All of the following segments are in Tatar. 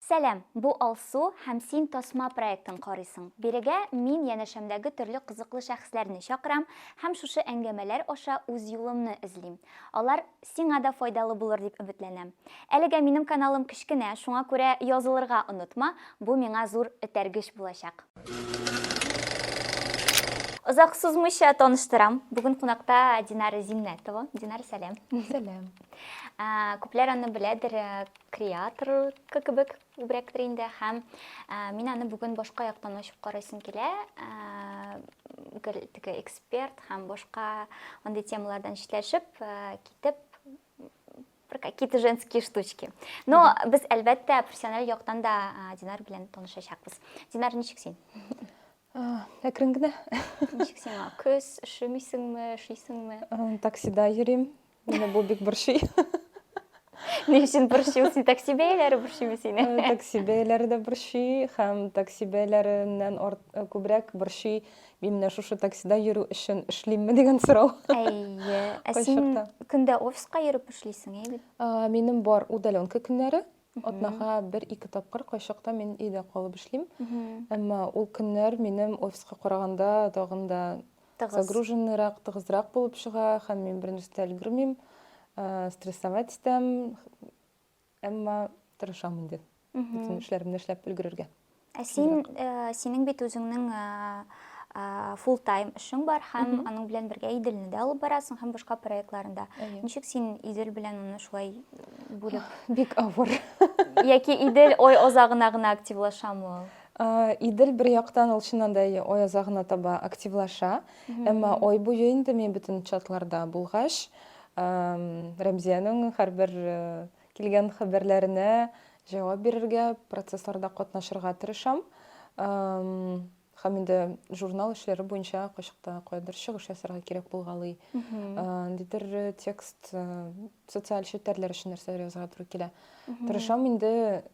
Сәлам! Бу Алсу һәм син тасма проектын карыйсың. Бирегә мин янәшәмдәге төрле кызыклы шәхесләрне чакырам һәм шушы әңгәмәләр аша үз юлымны эзлим. Алар сиңа да файдалы булыр дип өметләнәм. Әлегә минем каналым кечкенә, шуңа күрә язылырга онытма, бу миңа зур этәргеч булачак. Озак сузмыйча таныштырам, бүген кунакта Динара Зиннәтова. Динара, сәлам! Сәлам! Күпләр аны беләдер, креатор кебек күбрәктер инде һәм ә, мин аны бүген башка яктан ачып карыйсым килә ә, теге эксперт һәм башка андый темалардан читләшеп ә, китеп бір какие-то женские штучки но без әлбәттә профессиональ яктан да ә, динар белән танышачакбыз динар ничек син әкрен генә ничек сиңа көз ошымыйсыңмы ошыйсыңмы таксида йөрим Менә бу бик борчый. Ни өчен борчый ул син такси бәяләре борчыймы сине? Э, такси бәяләре дә борчый һәм такси бәяләреннән арт, э, күбрәк борчый мин менә шушы таксида йөрү өчен эшлимме дигән сорау. Әйе. Ә син Кайчакта. көндә офиска йөреп эшлисең, әйе бит? А, Минем бар удаленка көннәре. Атнага бер-ике тапкыр кайчакта мин өйдә калып эшлим. Әмма ул көннәр минем офиска караганда тагын да загруженныйрак, тыгызрак булып чыга һәм мин бернәрсә дә өлгермим, э, стрессовать итәм. Әмма тырышам инде. Бөтен эшләремне эшләп өлгерергә. Ә син, э, синең бит үзеңнең full time эшең бар һәм аның белән бергә Иделне дә алып барасың һәм башка проектларында. Ничек син Идел белән аны шулай бүлеп? Бик авыр. Яки Идел ой озагына гына активлашамы ул? Э, Идел бер яктан ул чыннан да ой озагына таба активлаша, әмма ой буе инде мин бөтен чатларда булгач, Рәмзиянең һәрбер э, Килгән хәбәрләренә җавап бирергә, процессларда катнашырга тырышам. Һәм инде журнал эшләре буенча кайчакта кайдыр чыгыш ясарга кирәк булгалый. Ниндидер текст социаль челтәрләр өчен нәрсәләр язарга туры килә. Тырышам инде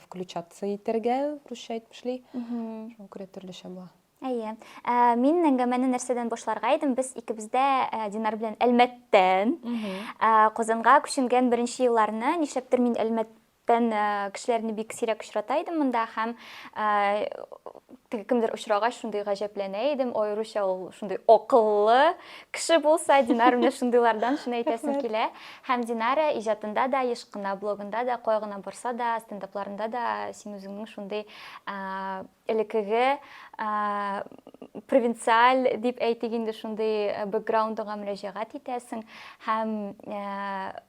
включаться итәргә, русча әйтмешли. Шуңа күрә төрлечә була. Әйе. Ә, мин әңгәмәне нәрсәдән башларга идем? Без икебез дә ә, Динар белән Әлмәттән ә, Казанга күченгән беренче елларны, нишләптер мин Әлмәттән ә, кешеләрне бик сирәк очрата идем монда һәм ә, теге кемдер очрагач шундый гаҗәпләнә идем, аеруча ул шундый акыллы кеше булса, Динар менә шундыйлардан шуны әйтәсем килә. Һәм Динара иҗатында да, еш кына блогында да, кая гына барса да, стендапларында да син үзеңнең шундый ә, элекеге провинциаль дип әйтик инде шундый э, бэкграундыңа мөрәҗәгать итәсең һәм э,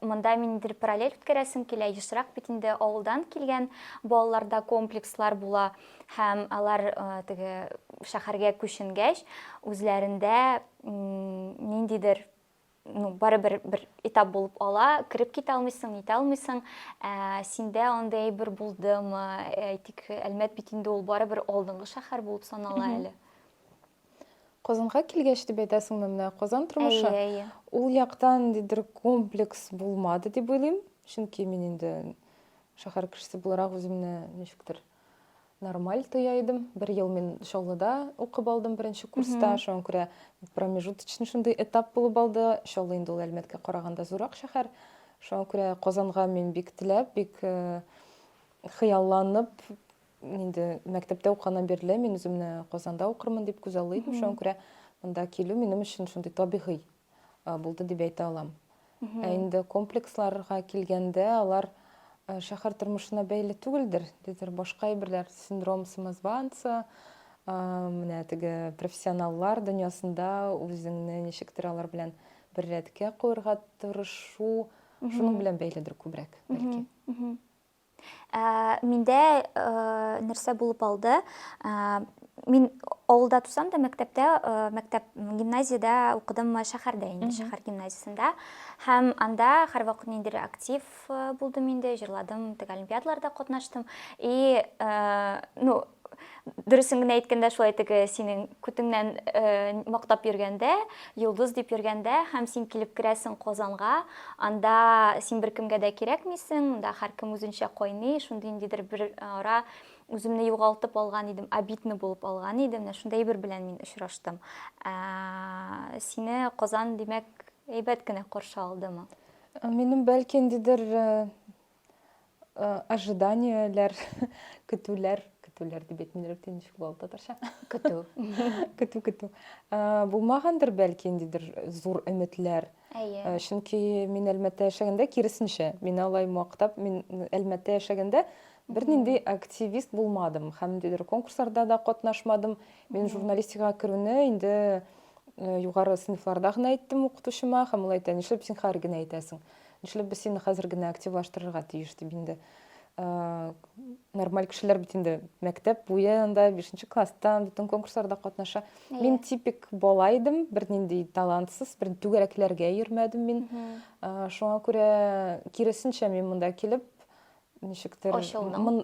монда миндер параллель үткәрәсең килә ешрак бит инде авылдан килгән балаларда комплекслар була һәм алар э, теге шәһәргә күченгәч үзләрендә ниндидер ну, бары бер, бер этап булып ала, кереп китә алмыйсың, нитә алмыйсың, ә, синдә андый әйбер булдымы, әйтик, әлмәт бит инде ул бары бер алдынгы шәһәр булып санала әле. Казанга килгәч дип әйтәсеңме менә Казан тормышы? Әйе, әйе. Ул яктан ниндидер комплекс булмады дип уйлыйм, чөнки мин инде шәһәр кешесе буларак үземне ничектер нормаль тоя идем. Бер ел мин Чаллыда укып алдым беренче курста. Шуңа күрә промежуточный шундый этап булып алды. Чаллы инде ул Әлмәткә караганда зурак шәһәр. Шуңа күрә Казанга мин бик теләп, бик э, хыялланып инде мәктәптә укыганнан бирле мин үземне Казанда укырмын дип күзаллый идем. Шуңа күрә монда килү минем өчен шундый табигый булды дип әйтә алам. Ә инде комплексларга килгәндә, алар шәһәр тормышына бәйле түгелдер, дидер башка әйберләр, синдром самозванца, менә теге профессионаллар дөньясында үзеңне ничектер алар белән бер рәткә куярга тырышу, шуның белән бәйледер күбрәк, бәлки. Ә, миндә ә, нәрсә булып алды? Ә, мин авылда тусам да мәктәптә э, мәктәп гимназиядә укыдым шәһәрдә инде шәһәр гимназиясендә һәм анда һәрвакыт ниндидер актив э, булдым инде җырладым теге олимпиадаларда катнаштым и э, ну Дөресен генә әйткәндә, шулай теге синең күтеңнән мактап йөргәндә, йолдыз дип йөргәндә, һәм син килеп керәсең Казанга, анда син беркемгә дә кирәкмисең, монда һәркем үзенчә кайный, шундый ниндидер бер ара үземне югалтып алган идем, обидно булып алган идем, менә шундый әйбер белән мин очраштым. Сине Казан, димәк, әйбәт кенә каршы алдымы? Минем бәлки ниндидер Э, ожиданияләр, көтүләр, көтүләр дип әйтмим, рәттән ничек була татарча? Көтү. Көтү, көтү. Э, булмагандыр бәлки ниндидер зур өметләр. Әйе. Э, чөнки мин Әлмәттә яшәгәндә киресенчә, мин алай мактап, мин Әлмәттә яшәгәндә бернинди активист булмадым һәм ниндидер конкурсларда да катнашмадым. Мин журналистикага керүне инде югары сыйныфларда гына әйттем укытучыма һәм ул әйтә, нишләп син хәер генә әйтәсең? Нишләп без сине хәзер генә активлаштырырга тиеш дип инде нормаль кешеләр бит инде мәктәп буен да бишенче класстан бөтен конкурсларда катнаша yeah. мин типик бала идем бернинди талантсыз бер түгәрәкләргә йөрмәдем мин mm -hmm. шуңа күрә киресенчә мин монда килеп ничектер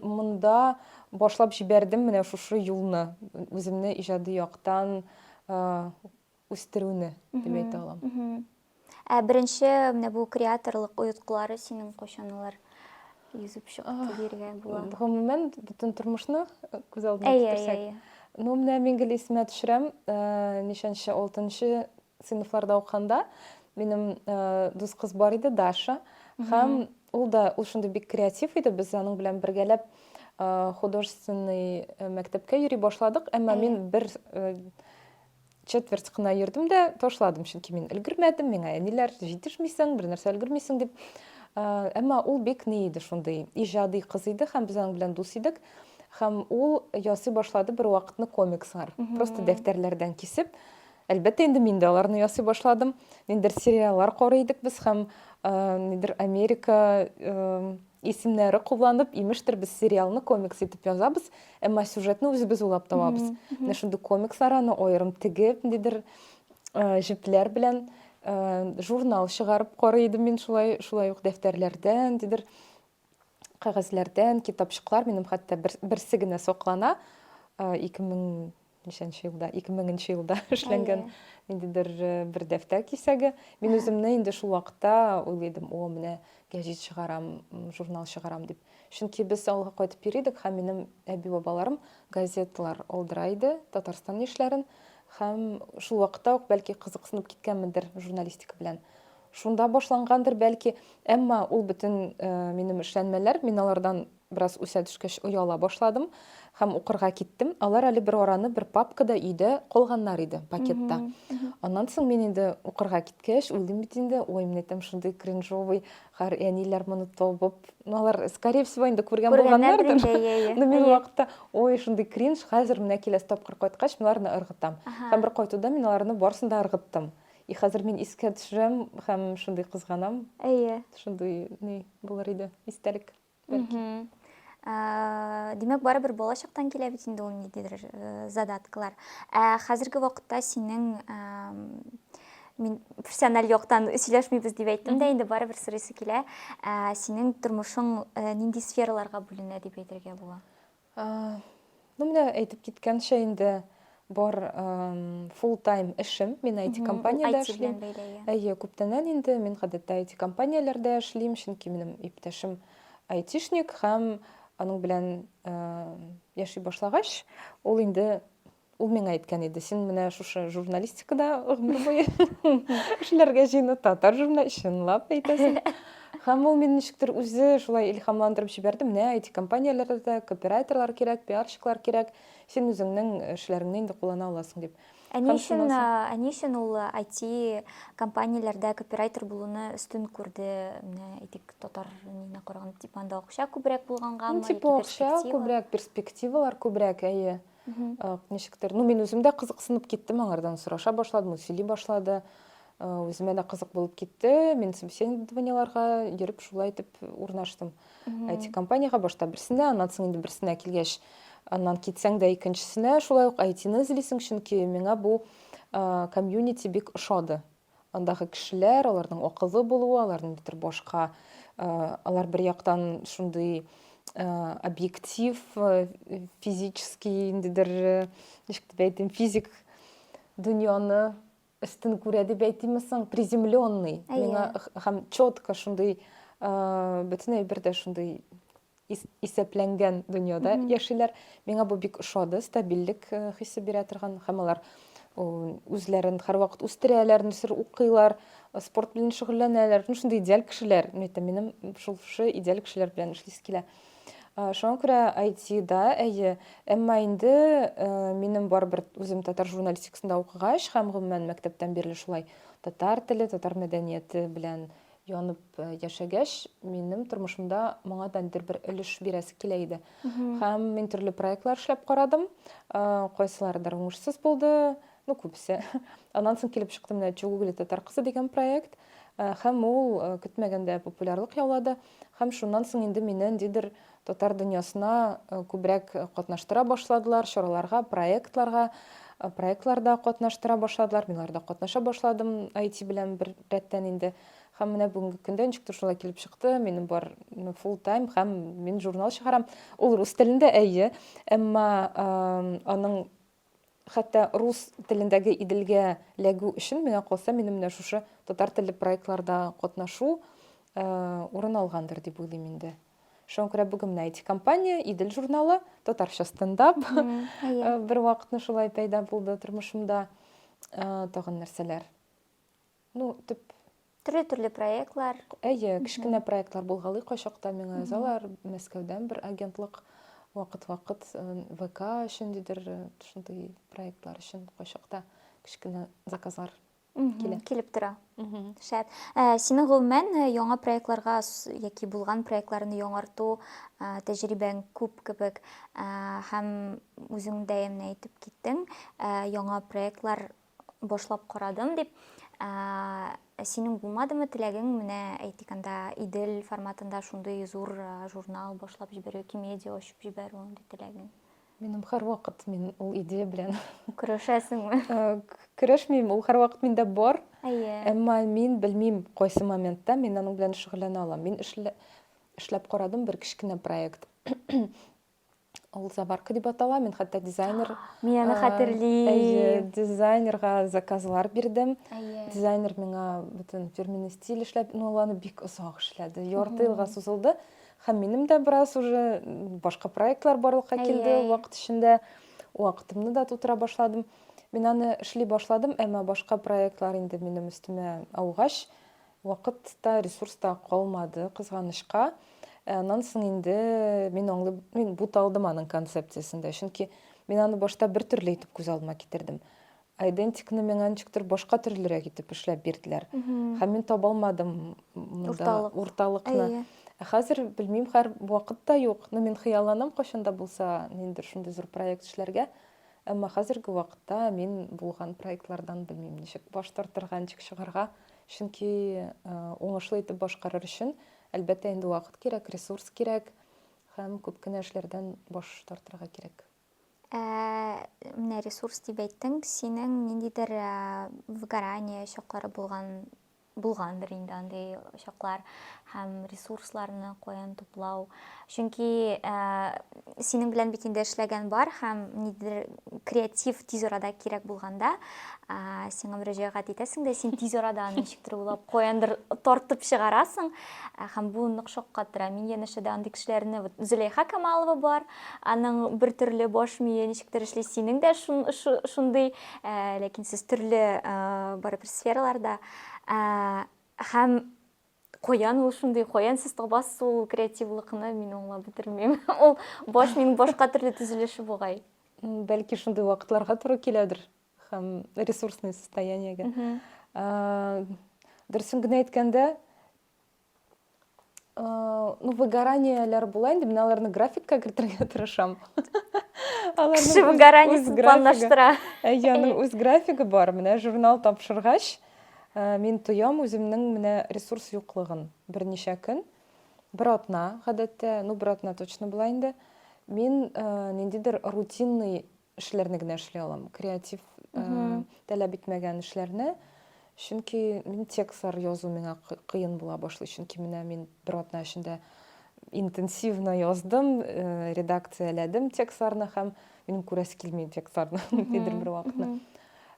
монда башлап җибәрдем менә шушы юлны үземне иҗади яктан үстерүне дип әйтә алам. Ә беренче менә бу креаторлык оеткылары синең кайчан алар йөзеп чыкты диергә була? Гомумән, бөтен тормышны күз алдына китерсәк. Ну, менә мин гел исемә төшерәм, ничәнче, алтынчы сыйныфларда укыганда минем дус кыз бар иде, Даша. Һәм ул да, ул шундый бик креатив иде, без аның белән бергәләп художественный мәктәпкә йөри башладык, әмма мин бер четверть кына йөрдем дә ташладым чөнки мин өлгермәдем миңа әниләр җитешмисең бер нәрсә өлгермисең дип әмма ул бик ни иде шундый иҗади кыз иде һәм без аның белән дус идек һәм ул ясый башлады бер вакытны комикслар просто дәфтәрләрдән кисеп әлбәттә инде мин дә аларны ясый башладым ниндидер сериаллар карый идек без һәм нидер америка Исемнәре кулланып, имештер, без сериалны комикс итеп язабыз, әмма сюжетны үзебез уйлап табабыз. Менә шундый комикслар аны аерым тегеп, ниндидер э, җепләр белән э, журнал чыгарып карый идем мин шулай, шулай ук дәфтәрләрдән, ниндидер кәгазьләрдән, китапчыклар минем хәтта бер, берсе генә саклана. Э, 2000 ничәнче елда, 2000 елда эшләнгән ниндидер э, бер дәфтәр кисәге. Мин үземне инде шул вакытта уйлыйдым, о, менә гәҗит чыгарам, журнал чыгарам дип. Чөнки без авылга кайтып йөри идек һәм минем әби-бабаларым газеталар алдыра иде, Татарстан яшьләрен һәм шул вакытта ук бәлки кызыксынып киткәнмендер журналистика белән. Шунда башлангандыр бәлки, әмма ул бөтен э, минем эшләнмәләр, мин алардан Бераз үсә төшкәч, ояла башладым һәм укырга киттем. Алар әле бер араны бер папкада өйдә калганнар иде, пакетта. Аннан соң мин инде укырга киткәч, уйлыйм бит инде, ой, менә там шундый кринжовый хәр, әниләр моны табып, ну, алар, скорее всего, инде күргән булганнардыр. Но мин ул вакытта, ой, шундый кринж, хәзер менә киләсе тапкыр кайткач, мин аларны ыргытам. Һәм бер кайтуда мин аларны барысын да ыргыттым. И хәзер мин искә төшерәм һәм шундый кызганам. Әйе. Шундый ни булыр иде, истәлек. бәлки. Ә, димәк, барыбер бала чактан килә бит инде ул ниндидер э, задаткалар. Ә хәзерге вакытта синең ә, мин профессиональ яктан сөйләшмибез дип әйттем дә, инде барыбер сорыйсы килә. Ә, синең тормышың ә, нинди сфераларга бүленә дип әйтергә була? Ну, менә әйтеп киткәнчә инде бар full time эшем. Мин IT компаниядә эшлим. Әйе, күптәннән инде мин гадәттә IT компанияләрдә эшлим, чөнки минем иптәшем айтишник һәм аның белән яши башлагач, ул инде Ул миңа әйткән иде, син менә шушы журналистикада гомер буе эшләргә җыену татар журнал чынлап әйтәсең. Һәм ул мине ничектер үзе шулай илһамландырып җибәрде. Менә IT-компанияләрдә дә копирайтерлар кирәк, пиарщиклар кирәк. Син үзеңнең эшләреңне инде куллана аласың дип. Ә ни өчен, ә ни өчен ул IT-компанияләрдә копирайтер булуны өстен күрде? Менә әйтик, татар нигезенә караганда, типа анда акча күбрәк булганга, типа акча күбрәк, перспективалар күбрәк, әйе. ничектер ну мин үзем дә кызыксынып киттем аңардан сораша башладым ул сөйли башлады үземә дә кызык булып китте мин собеседованиеларга йөреп шулай итеп урнаштым it компанияга башта берсенә аннан соң инде берсенә килгәч аннан китсәң дә икенчесенә шулай ук айтины эзлисең чөнки миңа бу комьюнити бик ошады Андагы кешеләр, аларның акыллы булуы, аларның битер башка, алар бер яктан шундый объектив, физический, индидер, ничек дип әйтим, физик дөньяны өстен күрә дип әйтимме соң, приземленный. Миңа һәм четко шундый бөтен әйбер дә шундый исәпләнгән дөньяда яшиләр. Миңа бу бик ошады, стабильлек э, хисе бирә торган һәм алар үзләрен һәрвакыт үстерәләр, нәрсәдер укыйлар, э, спорт белән шөгыльләнәләр. Ну шундый идеаль кешеләр. Мин әйтәм, минем шул шушы идеаль кешеләр белән эшлисе килә. Э, шуңа күрә IT-да, әйе, әмма инде минем барыбер үзем татар журналистикасында укыгач һәм гомумән мәктәптән бирле шулай татар теле, татар мәдәнияте белән янып яшәгәч, минем тормышымда моңа да нидер бер өлеш бирәсе килә иде. Һәм мин төрле проектлар эшләп карадым. Кайсыларыдыр уңышсыз булды, ну күбесе. Аннан соң килеп чыкты менә Чугугли татар кызы дигән проект. Һәм ул көтмәгәндә популярлык яулады. Һәм шуннан соң инде мине ниндидер Татар дөньясына күбрәк катнаштыра башладылар, чараларга, проектларга, проектларда катнаштыра башладылар. Мин аларда катнаша башладым IT белән бер рәттән инде. Һәм менә бүгенге көндә ничек шулай килеп чыкты, минем бар full time һәм мин журнал чыгарам. Ул рус телендә, әйе, әмма аның Хәтта рус телендәге Иделгә ләгү өчен миңа калса, минем менә шушы татар телле проектларда катнашу урын алгандыр дип уйлыйм инде. Шуңа күрә бүген менә IT компания, Идел журналы, татарча стендап бер вакытны шулай пәйда булды тормышымда. Тагын нәрсәләр? Ну, төп төрле-төрле проектлар. Әйе, кечкенә проектлар булгалый кайчакта миңа язалар. Мәскәүдән бер агентлык вакыт-вакыт э, ВК өчен дидер, э, шундый проектлар өчен кайчакта кечкенә заказлар килә. Килеп тора. Шәп. Ә, синең гомумән э, яңа проектларга яки булган проектларны яңарту ә, тәҗрибәң күп кебек ә, һәм үзең дә әйтеп киттең, ә, яңа проектлар башлап карадым дип. Ә, синең булмадымы теләгең менә әйтик анда Идел форматында шундый зур журнал башлап җибәрү, Кимедиа ачып җибәрү андый теләгең? Минем һәрвакыт мин ул идея белән көрәшәсеңме? Көрәшмим, ул һәрвакыт миндә бар. Әйе. Әмма мин белмим, кайсы моментта мин аның белән шөгыльләнә алам. Мин эшләп карадым бер кечкенә проект. Ул заварка дип атала. Мин хәтта дизайнер Мин аны хәтерлим. Әйе, дизайнерга заказлар бирдем. Дизайнер миңа бөтен фирменный стиль эшләп, ну аланы бик озак эшләде. Ярты елга сузылды. Һәм минем дә бераз уже башка проектлар барлыкка килде вакыт эчендә. Вакытымны да тутыра башладым. Мин аны эшли башладым, әмма башка проектлар инде минем өстемә аугач, Вакыт та, ресурс та калмады, кызганычка. Ә аннан соң инде мин аңлый, мин буталдым аның концепциясен дә. Чөнки мин аны башта бер төрле итеп күз алдыма китердем. Айдентикны миңа ничектер башка төрлерәк итеп эшләп бирделәр. Һәм мин таба алмадым монда урталыкны. Ә хәзер белмим, хәр вакыт та юк. Ну, мин хыялланам кайчан да булса, ниндидер шундый зур проект эшләргә. Әмма хәзерге вакытта мин булган проектлардан белмим, ничек баш тартырга, ничек чыгарга. Чөнки уңышлы итеп башкарыр өчен, әлбәттә, инде вакыт кирәк, ресурс кирәк һәм күп кенә эшләрдән баш тартырга кирәк. Ә, менә ресурс дип әйттең, синең ниндидер выгорание чаклары булган булгандыр инде андый чаклар һәм ресурсларны каян туплау Чөнки синең белән бит инде эшләгән бар һәм нидер креатив тиз арада кирәк булганда сиңа мөрәҗәгать итәсең дә син тиз арада аны ничектер уйлап каяндыр тартып чыгарасың һәм бу нык шаккатыра мин янәшәдә андый кешеләрне вот зөләйха камалова бар аның бер төрле баш мие ничектер эшли синең дә шундый ләкин сез төрле барыбер сфераларда һәм Каян ул шундый, каян сез табасыз ул креативлыкны, мин аңлап бетермим. Ул баш мин башка төрле төзелеше бугай. Бәлки шундый вакытларга туры киләдер һәм ресурсный состояниегә. Дөресен генә әйткәндә, ну выгораниеләр була инде, мин аларны графикка кертергә тырышам. Кеше выгораниесен планлаштыра. Әйе, аның үз графигы бар. Менә журнал тапшыргач, Мин тоям үземнең менә ресурс юклыгын. Берничә көн, бер атна, гадәттә, ну, бер атна точно була инде, мин ниндидер рутинный эшләрне генә эшли алам. Креатив таләп итмәгән эшләрне. Чөнки мин текстлар язу миңа кыен була башлый. Чөнки менә мин бер атна эчендә интенсивно яздым, редакцияләдем текстларны һәм минем күрәсе килми текстларны нидер бер вакытны.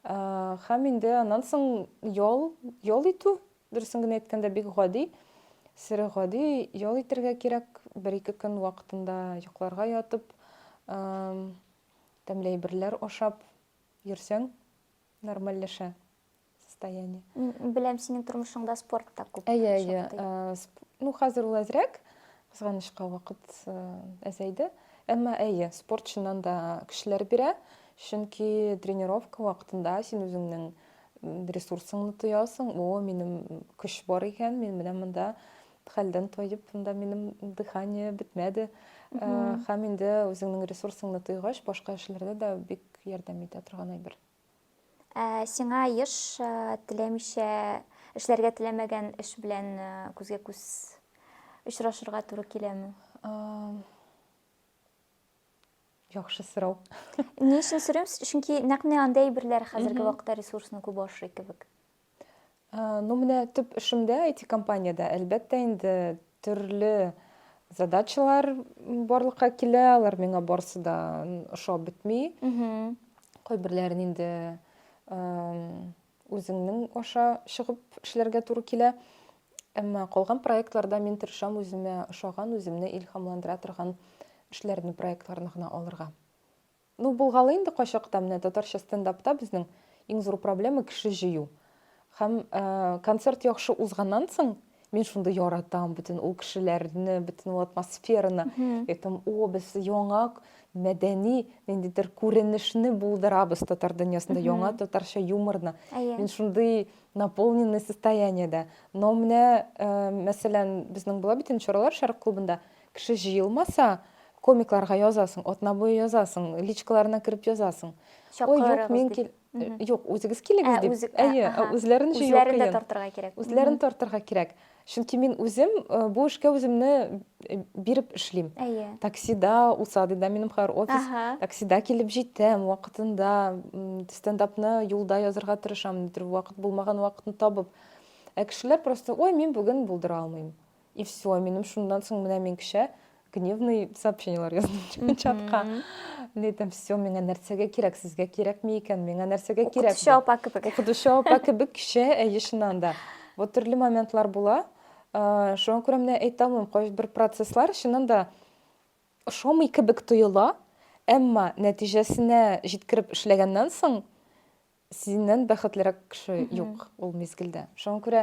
Һәм инде аннан соң ял, ял итү, дөресен генә әйткәндә, бик гади, сер гади ял итергә кирәк, бер-ике көн вакытында йокларга ятып, тәмле әйберләр ашап йөрсәң, нормальләшә состояние. Беләм, синең тормышыңда спорт та күп. Әйе, әйе. Ну, хәзер ул әзрәк, Кызганычка, вакыт әзәйде. Әмма, әйе, спорт чыннан да көчләр бирә, чөнки тренировка вакытында син үзеңнең ресурсыңны тоясың, о, минем көч бар икән, мин менә монда хәлдән тоеп, монда минем дыхание бетмәде. Һәм инде үзеңнең ресурсыңны тойгач, башка эшләрдә дә бик ярдәм итә торган әйбер. Ә, сиңа еш ә, теләмичә, эшләргә теләмәгән эш белән ә, күзгә күз очрашырга туры киләме? Ам, Яхшы сорау. Ни өчен сорыйм? Чөнки нәкъ менә андый әйберләр хәзерге Мгм. вакытта ресурсны күп ашый кебек. Ну, менә төп эшемдә, IT-компаниядә, әлбәттә инде, төрле задачалар барлыкка килә, алар миңа барысы да ошап бетми. Кайберләрен инде үзеңнең аша чыгып эшләргә туры килә. Әмма калган проектларда мин тырышам үземә ошаган, үземне илһамландыра торган эшләрне, проектларны гына алырга. Ну булгалы инде кайчакта менә татарча стендапта безнең иң зур проблема кеше җыю. Һәм концерт яхшы узганнан соң мин шундый яратам бөтен ул кешеләрне, бөтен ул атмосфераны. Әйтәм, о, без яңа мәдәни ниндидер күренешне булдырабыз татар дөньясында, яңа татарча юморны. Мин шундый наполненный состояниедә. Но менә, мәсәлән, безнең була бит инде чаралар Шәрык клубында. Кеше җыелмаса, комикларга язасың, атна буе язасың, личкаларына кереп язасың. Ой, юк, мин кил... Юк, үзегез килегез дип. Әйе, үзләрен җыю кыен. Үзләрен дә тартырга кирәк. Үзләрен тартырга кирәк. Чөнки мин үзем бу эшкә үземне биреп эшлим. Әйе. Таксида, Усадыда минем хәзер офис. Таксида килеп җитәм, вакытында стендапны юлда язырга тырышам, нидер вакыт булмаган вакытны табып. Ә кешеләр просто, ой, мин бүген булдыра алмыйм. И все, минем шундан соң менә мин кеше гневный сообщениелар яздым чатка. Летом все, миңа нәрсәгә кирәк, сезгә кирәкме икән, миңа нәрсәгә кирәк. Укытучы апа кебек. Укытучы апа кебек кеше, әйе чыннан да. Вот төрле моментлар була. Шуңа күрә менә әйтә алмыйм, кайбер процесслар чыннан да ошамый кебек тоела, әмма нәтиҗәсенә җиткереп эшләгәннән соң Синнән бәхетлерәк кеше юк ул мизгелдә. Шуңа күрә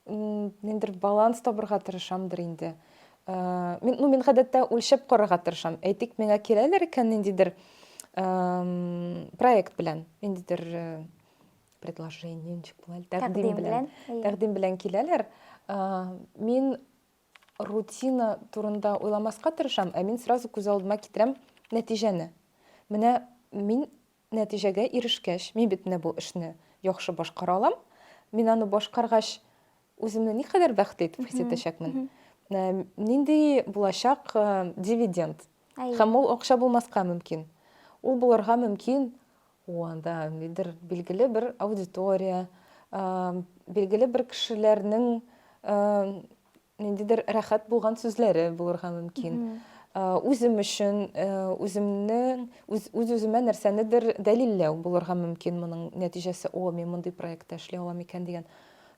ниндер баланс табырга тырышамдыр инде. Мин, ну, мин гадәттә үлчәп карарга тырышам. Әйтик, миңа киләләр икән ниндидер проект белән, ниндидер предложение, ничек була, тәкъдим белән, тәкъдим белән киләләр. Мин рутина турында уйламаска тырышам, ә мин сразу күз алдыма китерәм нәтиҗәне. Менә мин Нәтиҗәгә ирешкәч, мин бит менә бу эшне яхшы башкара алам, мин аны башкаргач, үземне никадәр бәхетле итеп хис итәчәкмен, ә, нинди булачак э, дивиденд. Әйе. Һәм ул акча булмаска мөмкин. Ул булырга мөмкин, о, анда нидер билгеле бер аудитория, э, билгеле бер кешеләрнең э, ниндидер рәхәт булган сүзләре булырга мөмкин. Үзем өчен, үземнең, үз-үземә нәрсәнедер дәлилләү булырга мөмкин моның нәтиҗәсе. О, мин мондый проектта эшли алам икән дигән.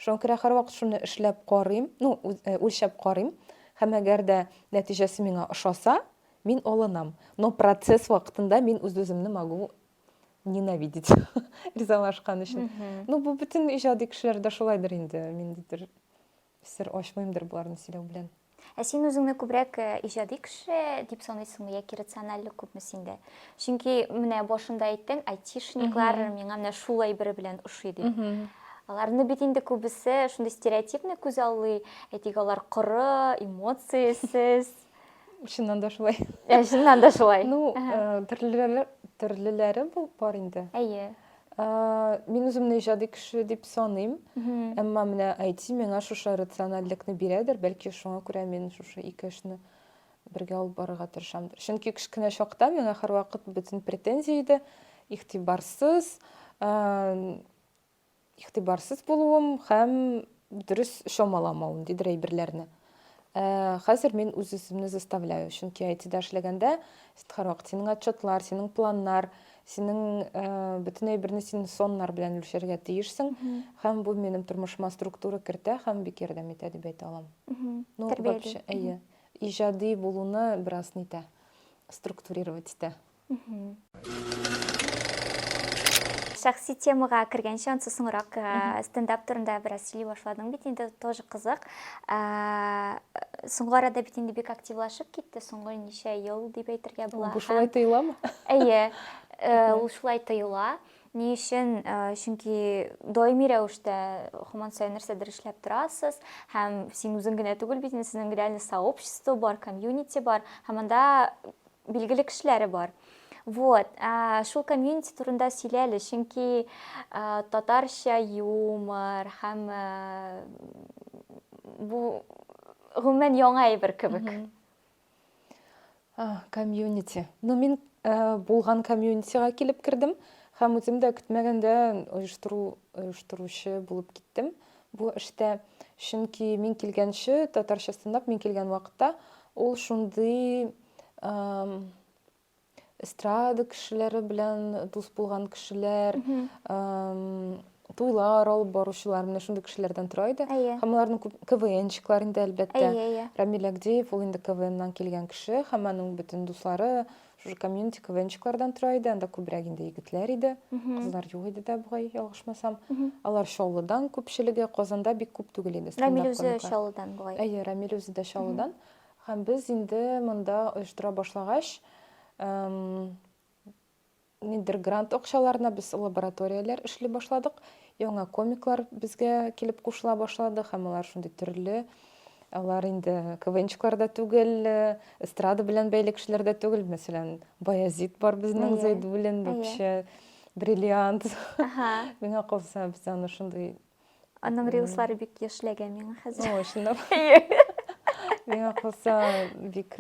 Шуңа күрә һәрвакыт шуны эшләп карыйм, ну, үлчәп карыйм. Һәм әгәр дә нәтиҗәсе миңа ошаса, мин алынам. Но процесс вакытында мин үз-үземне могу ненавидеть ризалашкан өчен. Ну, бу бөтен иҗади кешеләрдә шулайдыр инде, миндидер Сер ачмыймдыр боларны сөйләү белән. Ә син үзеңне күбрәк э, иҗади кеше дип саныйсыңмы яки рациональлек күпме синдә? Чөнки менә башында әйттең, айтишниклар миңа менә шул әйбер белән ошый дип. Аларны бит инде күбесе шундый стереотипны күз аллый, әйтик, алар коры, эмоциясез. Чыннан да шулай. Ә, чыннан да шулай. Ну, э, төрлеләре, төрлеләре бу- бар инде. Әйе. Э, Мин үземне иҗади кеше дип саныйм. Мгм. Әмма менә IT миңа шушы рациональлекне бирәдер, бәлки шуңа күрә мин шушы ике эшне бергә алып барырга тырышамдыр. Чөнки кечкенә чакта миңа һәрвакыт бөтен претензия иде, игътибарсыз, э, Игътибарсыз булуым һәм дөрес чамаламавым, дидер әйберләрне. Ә, хәзер мин үз-үземне заставляю, чөнки IT-да эшләгәндә, син һәрвакыт синең отчетлар, синең планнар, синең ә, бөтен әйберне син соннар белән үлчәргә тиешсең, һәм бу минем тормышыма структура кертә һәм бик ярдәм итә дип әйтә алам. Ну, вообще, әйе, иҗади булуны бераз нитә, структурировать итә. Шәхси темага кергәнче, ансы соңрак стендап турында бераз сөйли башладың бит, инде тоже кызык. Соңгы арада бит инде бик активлашып китте, соңгы ничә ел дип әйтергә була. Бу шулай тоеламы? Әйе, ул шулай тоела. Ни өчен? Чөнки даими рәвештә һаман саен нәрсәдер эшләп торасыз, һәм син үзең генә түгел бит, сезнең реально сообщество бар, комьюнити бар, һәм анда билгеле кешеләре бар. Вот, ә, шул комьюнити турында сөйлә әле, чөнки ә, татарча юмор һәм ә, бу гомумән яңа әйбер кебек. Комьюнити. Ну, мин ә, булган комьюнитига килеп кердем һәм үзем дә көтмәгәндә оештыру оештыручы булып киттем. Бу эштә, чөнки мин килгәнче, татарча стандарт мин килгән вакытта, ул шундый эстрада кешеләре белән дус булган кешеләр, туйлар алып баручылар, менә шундый кешеләрдән тора иде. Һәм аларның КВНчиклар инде, әлбәттә. Рамил Агдеев, ул инде КВНнан килгән кеше, һәм аның бөтен дуслары, Шушы комьюнити квенчиклардан тора иде, анда күбрәк инде егетләр иде, кызлар юк иде дә бугай, ялгышмасам. Алар Чаллыдан күпчелеге, Казанда бик күп түгел иде. Рамил үзе Чаллыдан бугай. Әйе, Рамил үзе дә Чаллыдан. Һәм без инде монда оештыра башлагач, нидер грант акчаларына без лабораторияләр эшли башладык. Яңа комиклар безгә килеп кушыла башлады һәм алар шундый төрле Алар инде КВНчыклар да түгел, эстрада белән бәйле кешеләр дә түгел. Мәсәлән, Баязит бар безнең, Зәйдуллин, бу кеше бриллиант. Миңа калса, без аны шундый... Аның рилслары бик яшьләгән миңа хәзер. О, чынлап. Миңа калса, бик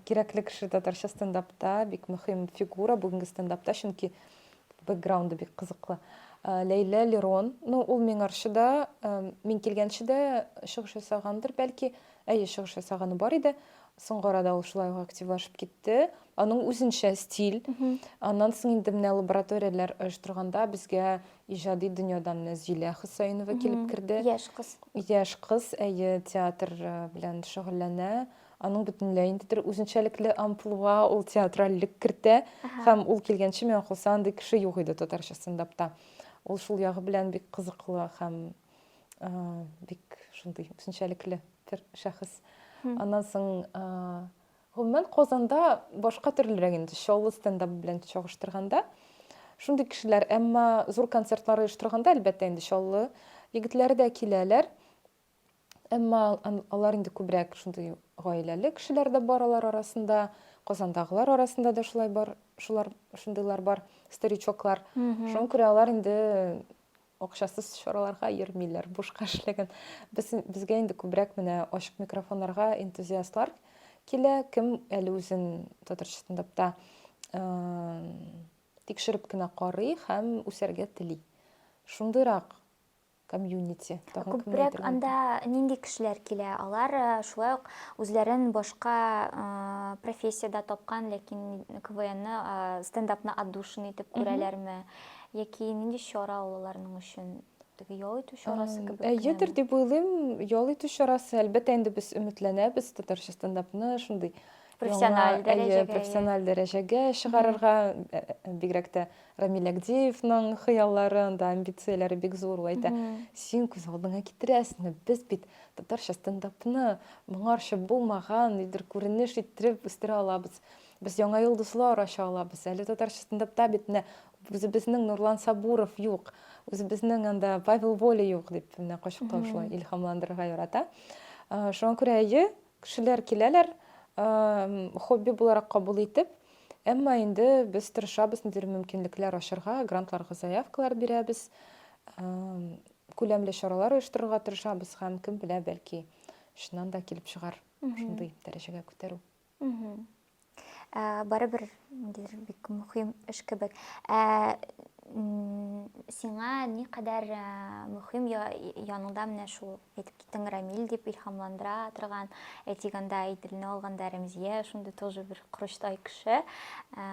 кирәкле кеше татарча стендапта, бик мөһим фигура бүгенге стендапта, чөнки... Э, Бэкграунды бик кызыклы. Э, Ләйлә Лерон, ну, ул Миңарчыда, э, мин килгәнче дә чыгыш ясагандыр, бәлки. Әйе, чыгыш ясаганы бар иде. Соңгы арада ул шулай ук активлашып китте. Аның үзенчә стиль. Аннан соң инде менә лабораторияләр оештырганда безгә иҗади дөньядан менә Зилә Хөсәенова килеп керде. Яшь кыз. Яшь кыз, әйе, театр э, белән шөгыльләнә. Аның бөтенләй инде бер үзенчәлекле амплуа, ул театральлек кертә. Һәм ул килгәнче миңа калса андый кеше юк иде татарча стендапта. Ул шул ягы белән бик кызыклы һәм бик шундый үзенчәлекле бер шәхес. Аннан соң гомумән Казанда башка төрлерәк инде Чаллы стендап белән чагыштырганда. Шундый кешеләр, әмма зур концертлар оештырганда, әлбәттә, инде Чаллы егетләре дә киләләр. Әмма алар инде күбрәк шундый гаиләле кешеләр дә бар алар арасында, Казандагылар арасында да шулай бар, шулар шундыйлар бар, старичоклар. Шуңа күрә алар инде акчасыз чараларга йөрмиләр, бушка эшләгән. Без безгә инде күбрәк менә ачык микрофоннарга энтузиастлар килә, кем әле үзен татарча стендапта тикшереп кенә карый һәм үсәргә тели. Шундыйрак комьюнити тагын кемне Күбрәк әйтергә анда мөмкин? нинди кешеләр килә? Алар э, шулай ук үзләрен башка э, профессиядә тапкан, ләкин КВНны, э, стендапны отдушина итеп күрәләрме? Яки нинди чара ул аларның өчен? Теге ял итү чарасы Ам, кебек Әйедер кенәме? дип уйлыйм, ял итү чарасы. Әлбәттә, инде без өметләнәбез татарча стендапны шундый профессиональ яңа, дәрәҗәгә әйе, профессиональ дәрәҗәгә чыгарырга э, э, бигрәк тә рамил әгдиевның хыяллары анда амбицияләре бик зур ул әйтә син күз алдыңа китерәсеңме без бит татарча стендапны моңарча булмаган нидер күренеш иттереп үстерә алабыз без яңа йолдызлар ача алабыз әле татарча стендапта бит менә үзебезнең нурлан сабуров юк үзебезнең анда павел воля юк дип менә кочаклау шулай илһамландырырга ярата шуңа күрә әйе Кешеләр киләләр, хобби буларак кабул итеп, әмма инде без тырышабыз ниндидер мөмкинлекләр ачарга, грантларга заявкалар бирәбез, күләмле чаралар оештырырга тырышабыз һәм кем белә, бәлки, чыннан да килеп чыгар шундый дәрәҗәгә күтәрү. Ә, барыбер ниндидер бик мөһим эш кебек. Ә, сиңа ни кадәр ә, мөһим я, яныңда менә шул әйтеп киттең Рамил дип илһамландыра торган, әйтик анда Иделне алганда Рәмзия шундый тоже бер корычтай кеше. Ә,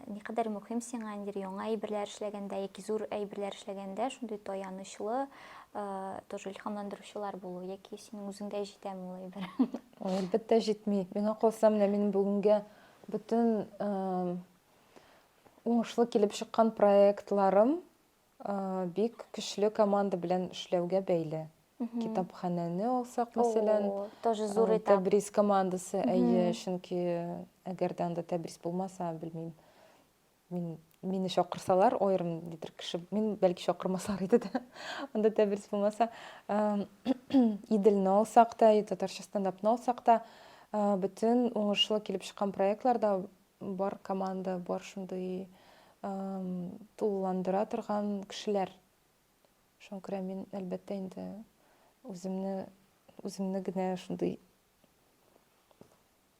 ни кадәр мөһим сиңа ниндидер яңа әйберләр эшләгәндә яки зур әйберләр эшләгәндә шундый таянычлы, ә, тоже илһамландыручылар булу яки синең үзеңгә җитәме ул әйбер? Ой, әлбәттә җитми. Миңа калса, менә минем бүгенгә бөтен уңышлы килеп чыккан проектларым бик көчле команда белән эшләүгә бәйле. Китапханәне алсак, мәсәлән, тоже зур этап. Тәбрис командасы, әйе, чөнки әгәр дә анда Тәбрис булмаса, белмим. Мин, мине чакырсалар, аерым дидер кеше, мин бәлки чакырмаслар иде дә, анда тәбрис булмаса. Иделне алсак та, татарча стендапны алсак та, бөтен уңышлы килеп чыккан проектларда бар команда, бар шундый тулыландыра торган кешеләр. Шуңа күрә мин, әлбәттә, инде үземне, үземне генә шундый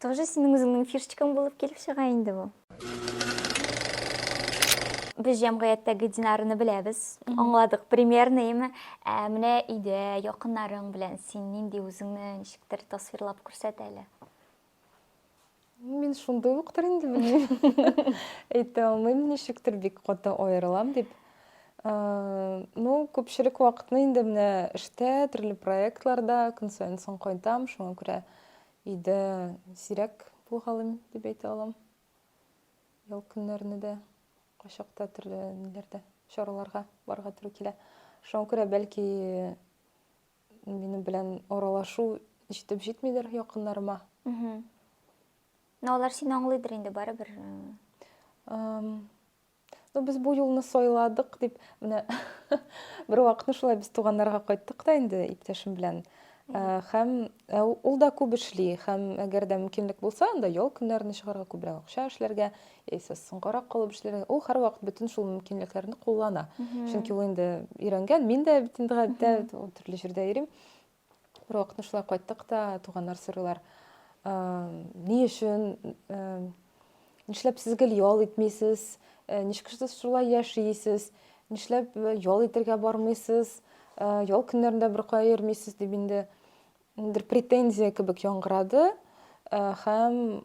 Тоже синең үзеңнең фишечкаң булып килеп чыга инде бу. Без җәмгыятьтәге Динарны беләбез, аңладык примерно, яме. Ә менә өйдә, якыннарың белән син нинди үзеңне ничектер тасвирлап күрсәт әле. Мин шундый уктыр инде белмим. Әйтә алмыйм, ничектер бик каты аерылам дип. Ну, күпчелек вакытны инде менә эштә, төрле проектларда көн саен соң кайтам, шуңа күрә Өйдә сирәк булгалыйм дип әйтә алам. Ял көннәрне дә кайчакта төрле ниләрдә, чараларга барга туры килә. Шуңа күрә бәлки минем белән аралашу җитеп җитмидер якыннарыма. Мә алар сине аңлыйдыр инде барыбер. Э. Эм, Ну, без бу юлны сайладык, дип, менә бер вакытны шулай без туганнарга кайттык та инде иптәшем белән. Э, һәм э, ул да күп эшли, һәм әгәр дә мөмкинлек булса, анда ял көннәрен чыгарга, күбрәк акча эшләргә, яисә соңгарак калып эшләргә. Ул һәрвакыт бөтен шул мөмкинлекләрне куллана. Чөнки ул инде өйрәнгән, мин дә бит инде гадәттә төрле җирдә йөрим. Бервакытны шулай кайттык та, туганнар сорыйлар, ни өчен, нишләп сез гел ял итмисез, ничек сез шулай яшисез, нишләп ял итергә бармыйсыз, ял көннәрендә беркая йөрмисез, дип инде бер претензия кебек яңгырады һәм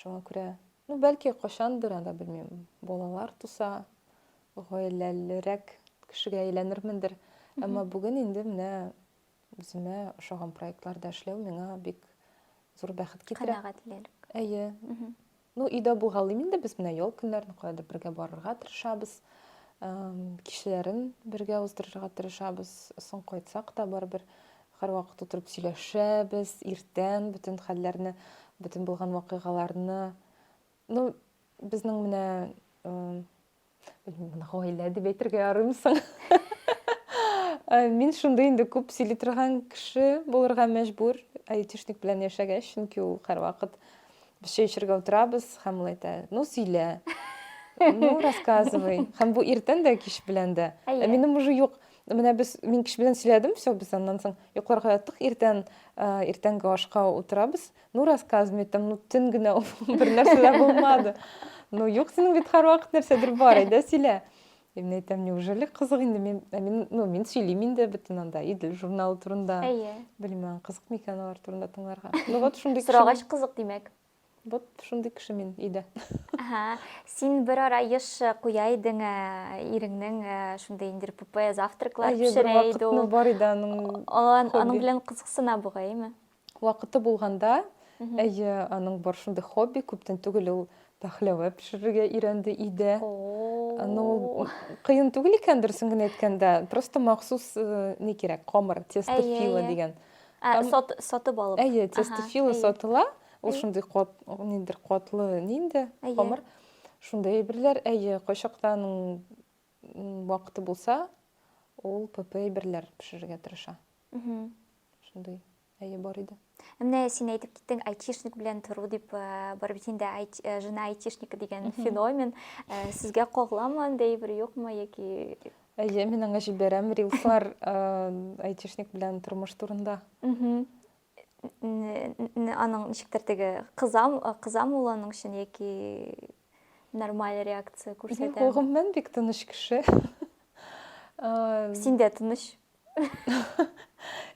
Шуңа күрә, ну, бәлки, кайчандыр, анда, белмим, балалар туса, гаиләлерәк кешегә әйләнермендер. Әмма бүген инде менә үземә ошаган проектларда эшләү миңа бик зур бәхет китерә. Канәгатьлелек. Әйе. Ну, өйдә булгалыйм инде без менә ял көннәрен каядыр бергә барырга тырышабыз. Кичләрен бергә уздырырга тырышабыз. Соң кайтсак та барыбер Һәрвакыт утырып сөйләшәбез, иртән бөтен хәлләрне, бөтен булган вакыйгаларны. Ну, безнең менә, белмим, гаилә дип әйтергә ярыймы соң? Э, мин шундый инде күп сөйли торган кеше булырга мәҗбүр айтишник белән яшәгәч чөнки ул һәрвакыт без чәй эчәргә утырабыз һәм ул әйтә ну сөйлә ну рассказывай һәм бу иртән дә кич белән дә ә минем уже юк Менә без мин кеше белән сөйләдем, все, без аннан соң йокларга яттык, иртән иртәнге ашка утырабыз. Ну, рассказывай, там, ну, төн генә бер нәрсә дә булмады. Ну, юк, синең бит һәрвакыт нәрсәдер бар, әйдә сөйлә. Мин әйтәм, неужели кызык инде мин, мин, ну, мин сөйлим инде бөтен анда Идел журналы турында. Әйе. Белмәм, кызык микән алар турында тыңларга. Ну, вот шундый Сорагач кызык, димәк. Вот шундый кеше мин өйдә. Ага. Син бер ара еш куя идең, ә, иреңнең ә, шундый инде РПП завтраклар Әйе, бер пешерә иде вакытны ул. бар иде аның Ан- Аның хобби. белән кызыксына бугаймы? Вакыты булганда, Мгм. әйе, аның бар шундый хобби, күптән түгел ул пәхләвә пешерергә өйрәнде өйдә. Аны ул О-о-о. кыен түгел икән, дөресен генә әйткәндә, просто махсус, э, ни кирәк, камыр, тесто Әйе, фила әйе. дигән. Ә, Там- сат, сатып алып. Әйе, Ага, тестофила әйе. сатыла. Ул Әйе. шундый кат, ниндер катлы нинди Әйе. камыр. Шундый әйберләр, әйе, кайчакта аның м, вакыты булса, ул ПП әйберләр пешерергә тырыша. Мгм. Шундый, әйе, бар иде. Ә Менә син әйтеп киттең, айтишник белән тору дип, ә, бар бит инде айт- ә, жена айтишника дигән феномен. Ә, Сезгә кагыламы андый бер юкмы яки Әйе, мин аңа җибәрәм рилслар айтишник белән тормыш турында. Аның ничектер теге кызам, кызам ул аның өчен яки нормаль реакция күрсәтә. Гомумән бик тыныч кеше. Синдә тыныч.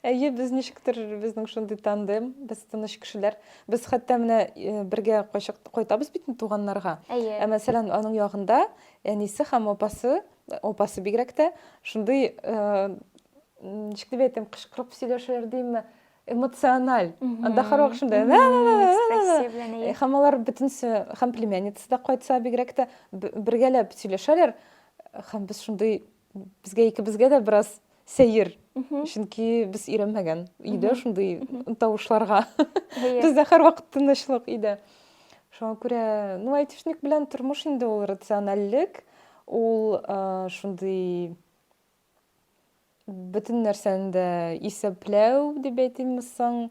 Әйе, без ничектер безнең шундый тандем, без тыныч кешеләр. Без хәтта менә э, бергә кайчак кайтабыз бит туганнарга. Әйе. Ә мәсәлән, аның ягында әнисе һәм апасы, апасы бигрәк тә шундый э, ничек дип әйтәм, кычкырып сөйләшәләр димме? эмоциональ. Анда һәрвакыт шунда. Һәм алар бөтенесе һәм племянницасы да кайтса бигрәк тә бергәләп сөйләшәләр һәм без шундый Безгә икебезгә дә бераз сәер. Чөнки без өйрәнмәгән өйдә шундый тавышларга. Бездә һәрвакыт тынычлык өйдә. Шуңа күрә, ну, айтишник белән тормыш инде ул рациональлек, ул шундый бөтен нәрсәне дә исәпләү дип әйтимме соң.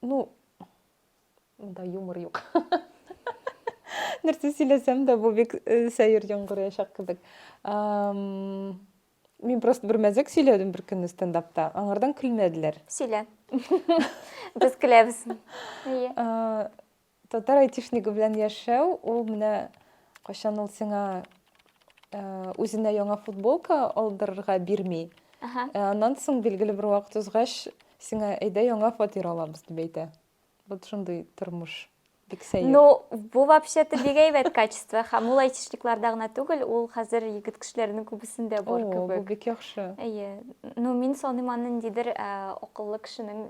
ну мында юмор юк нәрсә сөйләсәм дә бу бик э, сәер яңгыраячак кебек мин просто бер мәзәк сөйләдем бер көнне стендапта аңардан көлмәделәр сөйлә без көләбез әйе Татар айтишнигы белән яшәү, ул менә кайчан ул сиңа э, үзенә яңа футболка алдырырга бирми. Ага. Э, Аннан соң билгеле бер вакыт узгач, сиңа әйдә яңа фатир алабыз дип әйтә. Вот шундый тормыш. Бик сәер. Ну, бу вообще-то бик әйбәт качество. Һәм ул айтишникларда гына түгел, ул хәзер егет кешеләренең күбесендә О, бар бу кебек. бик яхшы. Әйе. Ну, мин саныйм аны ниндидер ә, акыллы кешенең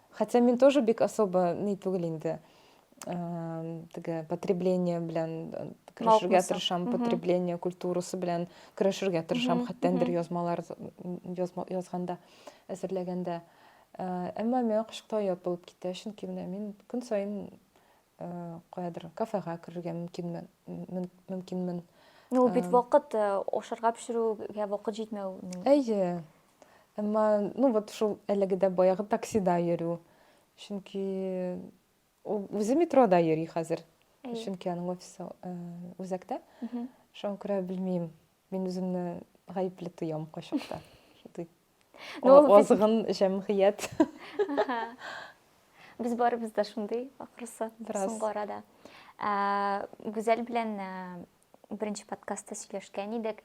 Хотя мин тоже бик особо ни түгел инде. Теге потребление белән э, көрәшергә тырышам, потребление культурасы белән көрәшергә тырышам, хәттәндер язмалар язганда, әзерләгәндә. Әмма миңа кышкыта ят булып китә, чөнки менә мин көн саен каядыр кафега керергә мөмкинмен, мөмкинмен. Ну, бит вакыт ашарга пешерүгә вакыт җитмәү. Әйе. Әмма, ну вот шул әлеге дә баягы таксида йөрү. Чөнки ул үзе метрода йөри хәзер. Әйе. Чөнки аның офисы э, үзәктә. Мгм. Шуңа күрә белмим. Мин үземне гаепле тоям кайчакта. Шундый Ну, ул без- азгын җәмгыять. Аха. Без барыбыз да шундый, ахрысы, Бераз. соңгы арада. Ә, Гүзәл белән ә, беренче подкастта сөйләшкән идек.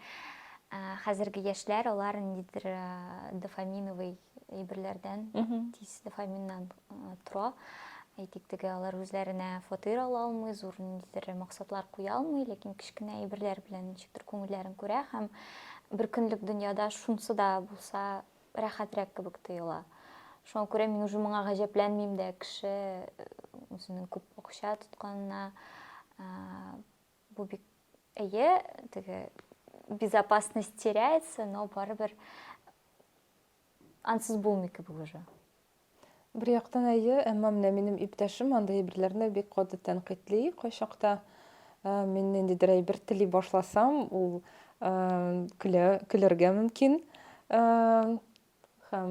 Хәзерге яшьләр алар ниндидер дофаминовый әйберләрдән, тиз дофаминнан тора. Әйтик, теге алар үзләренә фатир ала алмый, зур ниндидер максатлар куя алмый, ләкин кечкенә әйберләр белән ничектер күңелләрен күрә һәм бер көнлек дөньяда шунсы да булса рәхәтрәк кебек тоела. Шуңа күрә мин уже моңа гаҗәпләнмим дә, кеше үзенең күп акча тотканына Бу бик әйе, теге безопасность теряется, но барыбер ансыз булмый кебек уже. Бер яктан әйе, әмма менә минем иптәшем андый әйберләрне бик каты тәнкыйтьли кайчакта. Ә, Мин ниндидер әйбер тели башласам, ул ә, көлә, көләргә мөмкин. Ә, Һәм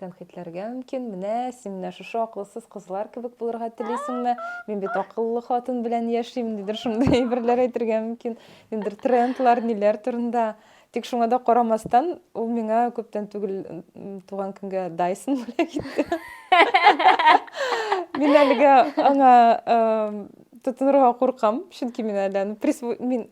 тәнкыйтьләргә мөмкин, менә син менә шушы акылсыз кызлар кебек булырга телисеңме? Мин бит акыллы хатын белән яшим, дидер шундый әйберләр әйтергә мөмкин. Нидер трендлар, ниләр турында. Тик шуңа да карамастан, ул миңа күптән түгел туган көнгә Dyson бүләк итте. Мин әлегә аңа тотынырга куркам, чөнки мин әле аны мин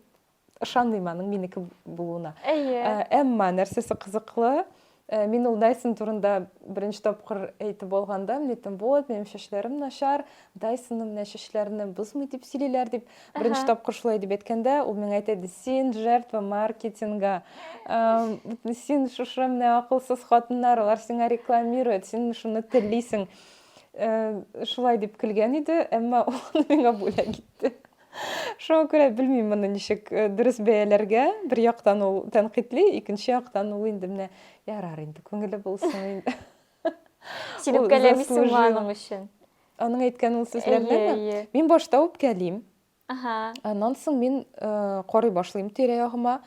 ышанмыйм аның минеке булуына әйе ә, әмма нәрсәсе кызыклы ә, мин ул дайсон турында беренче тапкыр әйтеп алганда мин әйттем вот минем чәчләрем начар дайсонны менә чәчләрне бозмый дип сөйлиләр дип беренче ага. тапкыр шулай дип әйткәндә ул миңа әйтә иде син жертва маркетинга ә, син шушы менә акылсыз хатыннар алар сиңа рекламирует син шуны телисең ә, шулай дип көлгән иде әмма ул миңа бүләк итте Шуңа күрә белмим моны ничек э, дөрес бәяләргә. Бер яктан ул тәнкыйтьли, икенче яктан ул инде менә ярар инде, күңеле булсын инде. Син Ул үпкәләмисең заслужил. аның өчен. Аның әйткән ул сүзләренә Әйе, әйе. мин башта үпкәлим. Ага. Аннан соң мин э, карый башлыйм тирә-ягыма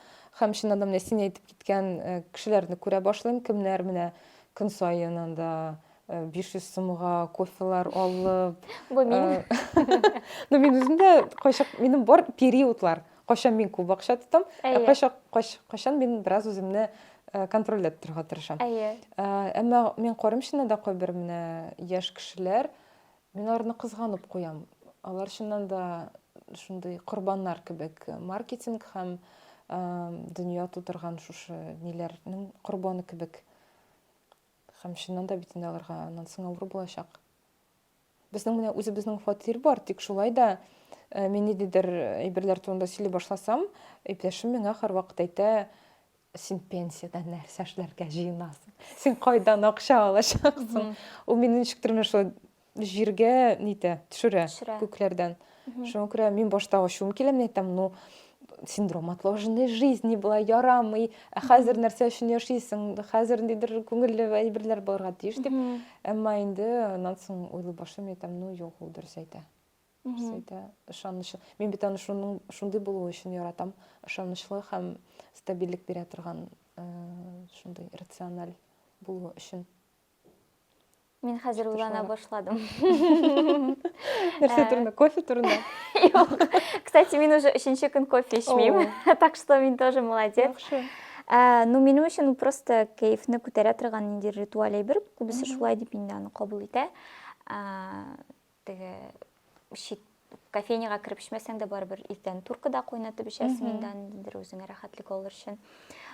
һәм чыннан да менә син әйтеп киткән э, кешеләрне күрә башлыйм, кемнәр менә көн саен анда 500 э, сумга кофелар алып бу мин ну мин үзем дә кайчак минем бар периодлар кайчан мин күп акча тотам ә кайчак кайчан мин бераз үземне э, контрольдә торырга тырышам әйе э, әмма мин карыйм чыннан да кайбер менә яшь кешеләр мин аларны кызганып куям алар чыннан да шундый корбаннар кебек маркетинг һәм дөнья тутырган шушы ниләрнең корбаны кебек Хәм чыннан да бит инде аларга аннан соң авыр булачак. Безнең менә үзебезнең фатир бар, тик шулай да э, мин ниндидер әйберләр турында сөйли башласам, иптәшем миңа һәрвакыт әйтә, син пенсияда нәрсә эшләргә җыенасың? Син кайдан акча алачаксың? Ул мине ничектер менә шулай җиргә нитә, төшерә, Төшерә. күкләрдән. Мгм. Шуңа күрә мин башта ачуым килә, мин әйтәм, ну, синдром отложенной жизни була, ярамый, ә хәзер нәрсә өчен яшисең, хәзер ниндидер күңелле әйберләр булырга тиеш дип. Мгм. Әмма инде аннан соң уйлый башлыйм, мин әйтәм, ну, юк, ул дөрес әйтә. Дөрес Мгм. әйтә, ышанычлы. Мин бит аны шуның, шундый булуы өчен яратам. Ышанычлы һәм стабильлек бирә торган, э, шундый рациональ булуы өчен. Мин хәзер уйлана башладым. Нәрсә турында? Кофе турында? Юк. Кстати, мин уже өченче көн кофе эчмим. Так что мин тоже молодец. Яхшы. Э, ну, минем өчен просто кәефне күтәрә торган нинди ритуаль әйбер. Күбесе шулай дип инде аны кабул итә. Э, Теге чит кофейняга кереп эчмәсәң дә барыбер иртән туркада кайнатып эчәсең инде андидер үзеңә рәхәтлек алыр өчен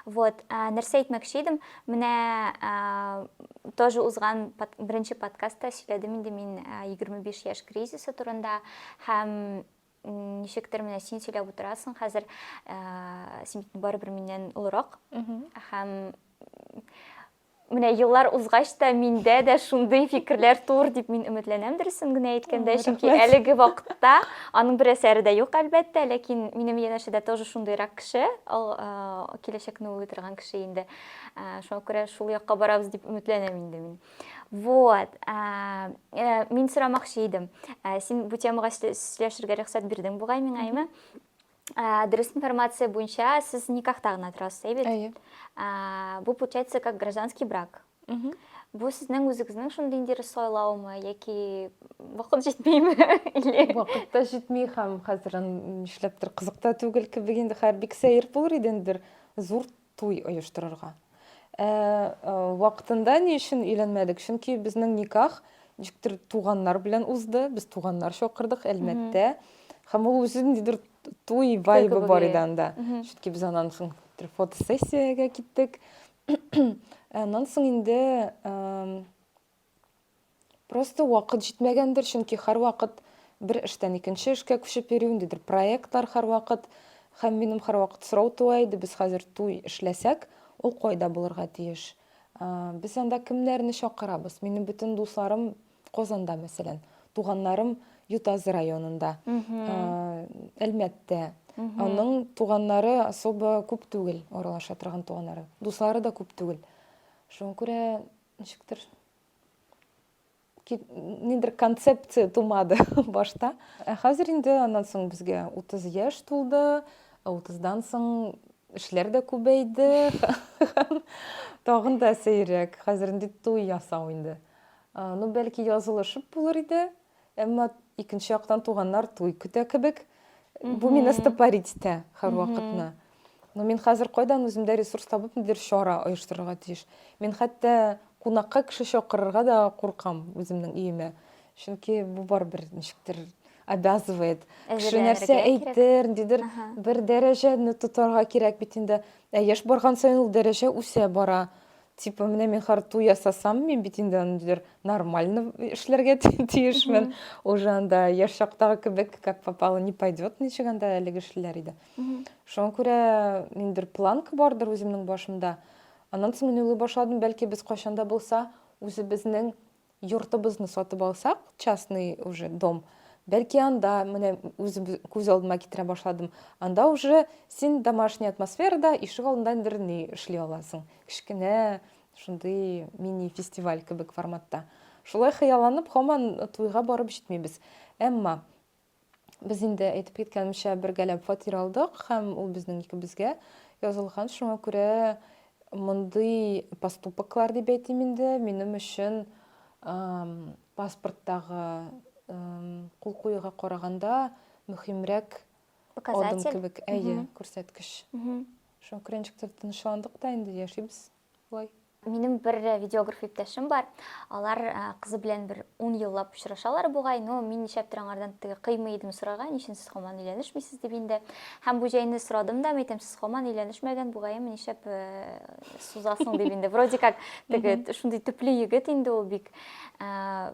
вот нәрсә әйтмәкче идем менә тоже узган беренче подкастта сөйләдем инде мин егерме биш яшь кризисы турында һәм ничектер менә син сөйләп утырасың хәзер син барыбер миннән олырак һәм Менә еллар узгач та миндә дә шундый фикерләр тур дип мин өметләнәм, дөресен генә әйткәндә, чөнки әлеге вакытта аның бер әсәре дә юк, әлбәттә, ләкин минем янәшәдә тоже шундыйрак кеше, ал, э, киләчәкне уйлый торган кеше инде. Э, шуңа күрә шул якка барабыз дип өметләнәм инде мин. Вот. Э, э, мин сорамакчы идем. Э, син бу темага сөйләшергә рөхсәт бирдең бугай миңа, әйме? Ә, дөрес информация буенча сез никахта гына торасыз, әй бит? Әйе. Ә, бу получается как гражданский брак. Мгм. Бу сезнең үзегезнең шундый ниндидер сайлаумы яки вакыт җитмиме? Или Вакыт та җитми һәм хәзер ан- нишләптер кызык та түгел кебек инде. Хәер, бик сәер булыр иде инде бер зур Туй оештырырга. Ә вакытында ни өчен өйләнмәдек? Чөнки безнең никах ничектер туганнар белән узды. Без туганнар чакырдык, әлмәттә. Һәм ул үзе ниндидер туй вайбы бар иде анда. Чөнки без аннан соң фотосессиягә киттек. Аннан соң инде Просто вакыт җитмәгәндер, чөнки һәрвакыт бер эштән икенче эшкә күчеп йөрү, ниндидер проектлар һәрвакыт һәм минем һәрвакыт сорау туа иде, без хәзер туй эшләсәк, ул кайда булырга тиеш? Без анда кемнәрне чакырабыз? Минем бөтен дусларым Казанда, мәсәлән, туганнарым Ютазы районында, Әлмәттә. Аның туганнары особо күп түгел, аралаша торган туганнары. Дуслары да күп түгел. Шуңа күрә ничектер нидер концепция тумады башта ә хәзер инде аннан соң безгә утыз яшь тулды ә утыздан соң эшләр дә күбәйде тагын да сәеррәк хәзер инде туй ясау инде ну бәлки язылышып булыр иде Әмма икенче яктан туганнар туй көтә кебек. Бу мине стопорить итә һәрвакытны. Но мин хәзер кайдан үземдә ресурс табып нидер чара оештырырга тиеш. Мин хәтта кунакка кеше чакырырга да куркам үземнең өемә. Чөнки бу барыбер ничектер обязывает. Кеше нәрсә әйтер, дидер, бер дәрәҗәне тотарга кирәк бит инде. Ә яшь барган саен ул дәрәҗә үсә бара. Типа, менә мин харту ясасам, мин бит инде аны диләр, нормально эшләргә тиешмен. Уже анда яшь чактагы кебек, как попало, не пойдет, ничек анда әлеге эшләр иде. Шуңа күрә ниндер планка бардыр үземнең башымда. Аннан соң мин уйлый башладым, бәлки без кайчан да булса үзебезнең Йортыбызны сатып алсак, частный уже дом, бәлки анда, менә үзем күз алдыма китерә башладым, анда уже син домашний атмосферада ишек алдында ниндер ни эшли аласың. Кечкенә шундый мини-фестиваль кебек форматта. Шулай хыялланып, һаман туйга барып җитмибез. Әмма Без инде, әйтеп киткәнемчә, бергәләп фатир алдык һәм ул безнең икебезгә язылган. Шуңа күрә мондый поступоклар, дип әйтим инде, минем өчен паспорттагы кул куюга караганда мөһимрәк адым кебек, әйе, күрсәткеч. Шуңа күрә ничектер тынычландык та инде, яшибез. Вай. Минем бер видеограф иптәшем бар. Алар кызы белән бер 10 еллап очрашалар бугай, но мин нишләптер аңардан теге кыймый идем сорарга, ни өчен сез хаман өйләнешмисез дип инде. Һәм бу җәйне сорадым да, әйтәм, сез хаман өйләнешмәгән бугайым, нишләп э, сузасың дип инде. Вроде как теге шундый төпле егет инде ул бик. Э,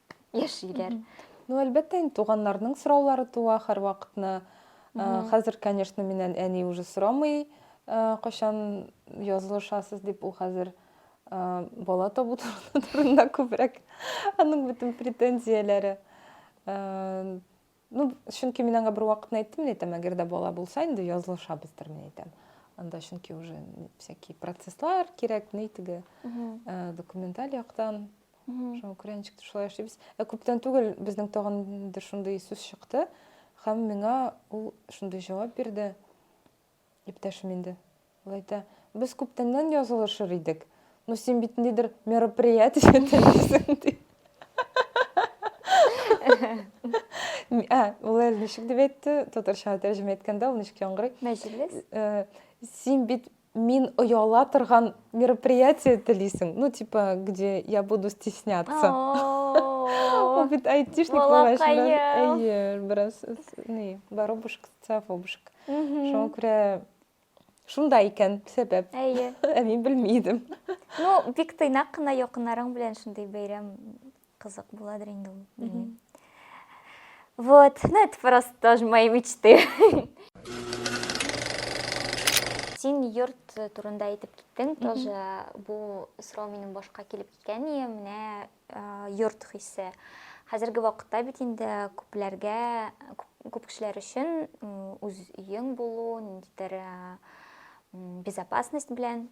яшиләр. Ну, әлбәттә, инде туганнарның сораулары туа һәрвакытны. Э, хәзер, конечно, миннән әни уже сорамый, э, кайчан язылышасыз дип, ул хәзер э, бала табу турында күбрәк аның бөтен претензияләре. Э, Ну, чөнки мин аңа бер вакытны әйттем, мин әйтәм, әгәр дә бала булса, инде язылышабыздыр, мин әйтәм. Анда чөнки уже всякие процесслар кирәк, ни теге э, документаль яктан. Шуңа күрә ничек тә шулай эшлибез. Ә күптән түгел безнең тагын инде шундый сүз чыкты, һәм миңа ул шундый җавап бирде. Иптәшем инде ул әйтә, без күптәннән язылышыр идек, ну син бит ниндидер мероприятие телисең ди. Ә, ул әле ничек дип әйтте, татарчага тәрҗемә иткәндә ул ничек яңгырый? Мәҗлес? Э, син бит мин ояла торган мероприятие телисең, ну типа, где я буду стесняться. Ул бит айтишник булгач, әйе, бераз, не, воробушка. Сафобушка. Шуңа күрә шунда икән сәбәп. Әйе. Ә мин белми идем. Ну, бик тыйнак кына якыннарың белән шундый бәйрәм кызык буладыр инде ул, белмим. Вот, ну это просто тоже мои мечты. Син йорт турында әйтеп киттең, тоже бу сорау минем башка килеп киткән, менә йорт хисе. Хәзерге вакытта бит инде күпләргә, күп кешеләр өчен үз өең булу, ниндидер безопасность белән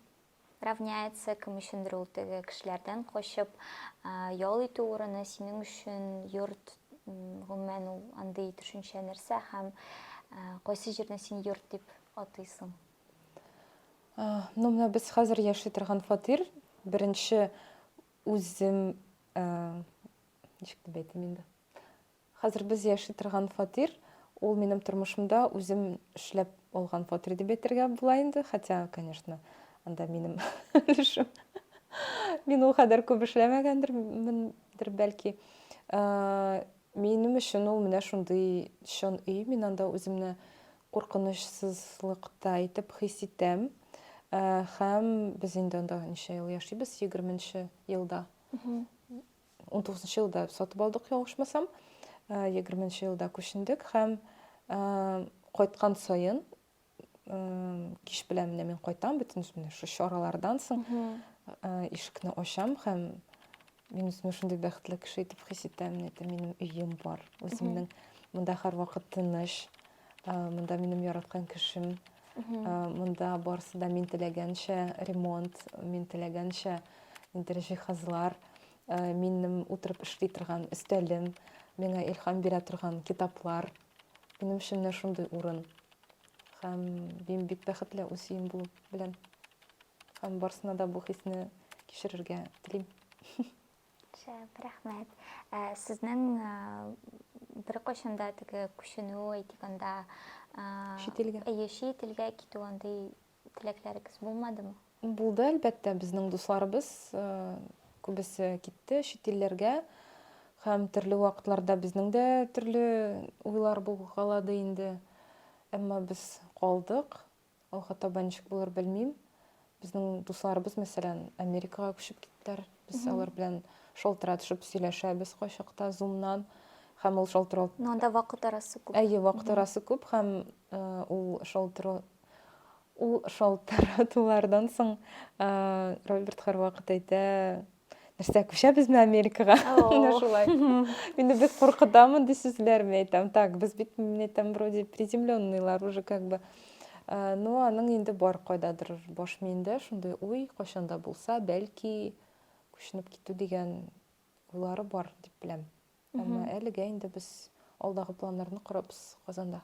равняется, кем өчендер ул теге кешеләрдән качып ял итү урыны синең өчен йорт гомумән ул андый төшенчә нәрсә һәм кайсы җирне син йорт дип атыйсың? Ну, менә без хәзер яши торган фатир беренче Үзем, ничек дип әйтим инде. Хәзер без яши торган фатир, ул минем тормышымда үзем эшләп алган фатир дип әйтергә була инде. Хотя, конечно, анда минем өлешем. Мин ул кадәр күп эшләмәгәндер, мендер, бәлки. Минем өчен ул менә шундый чын өй, мин анда үземне куркынычсызлыкта итеп хис итәм. Һәм без инде анда ничә ел яшибез? Егерме нче елда. Унтугызынчы нчы елда сатып алдык, ялгышмасам. Егерме нче елда күчендек һәм кайткан саен кич белән менә мин кайтам бөтен менә шу чаралардан соң ишекне ачам һәм мин үземне шундый бәхетле кеше итеп хис итәм әйтәм минем өем бар үземнең монда һәрвакыт тыныч монда минем яраткан кешем монда барысы да мин теләгәнчә ремонт мин теләгәнчә инде җиһазлар минем утырып эшли торган өстәлем миңа илһам бирә торган китаплар Минем өчен менә шундый урын. Һәм мин бик бәхетле үз өем булу белән. Һәм барсына да бу хисне кичерергә телим. Шәп, рәхмәт. Ә, сезнең ә, бер кайчанда теге күченү әйтик анда чит илгә. Әйе, чит илгә китү андый Теләкләрегез булмадымы? Булды, әлбәттә. Безнең дусларыбыз э, күбесе китте чит илләргә. Һәм төрле вакытларда безнең дә төрле уйлар булгалады инде. Әмма без калдык. Алга таба ничек булыр белмим. Безнең дусларыбыз, мәсәлән, Америкага күчеп киттеләр. Без алар белән шалтыратышып сөйләшәбез кайчакта зумнан һәм ул шалтырау Но анда вакыт арасы күп. Әйе, вакыт арасы күп һәм э, ул шалтырау Ул шалтыратулардан соң Роберт һәрвакыт әйтә, нәрсә, күчәбезме Америкага? Менә шулай. Инде без куркытамы ди сүзләрне әйтәм. Так, без бит мин әйтәм, вроде приземленныйлар уже как бы. Ну, аның инде бар кайдадыр баш миендә шундый уй, кайчанда булса, бәлки күченеп китү дигән уйлары бар дип беләм. Әмма әлегә инде без алдагы планнарны корабыз Казанда.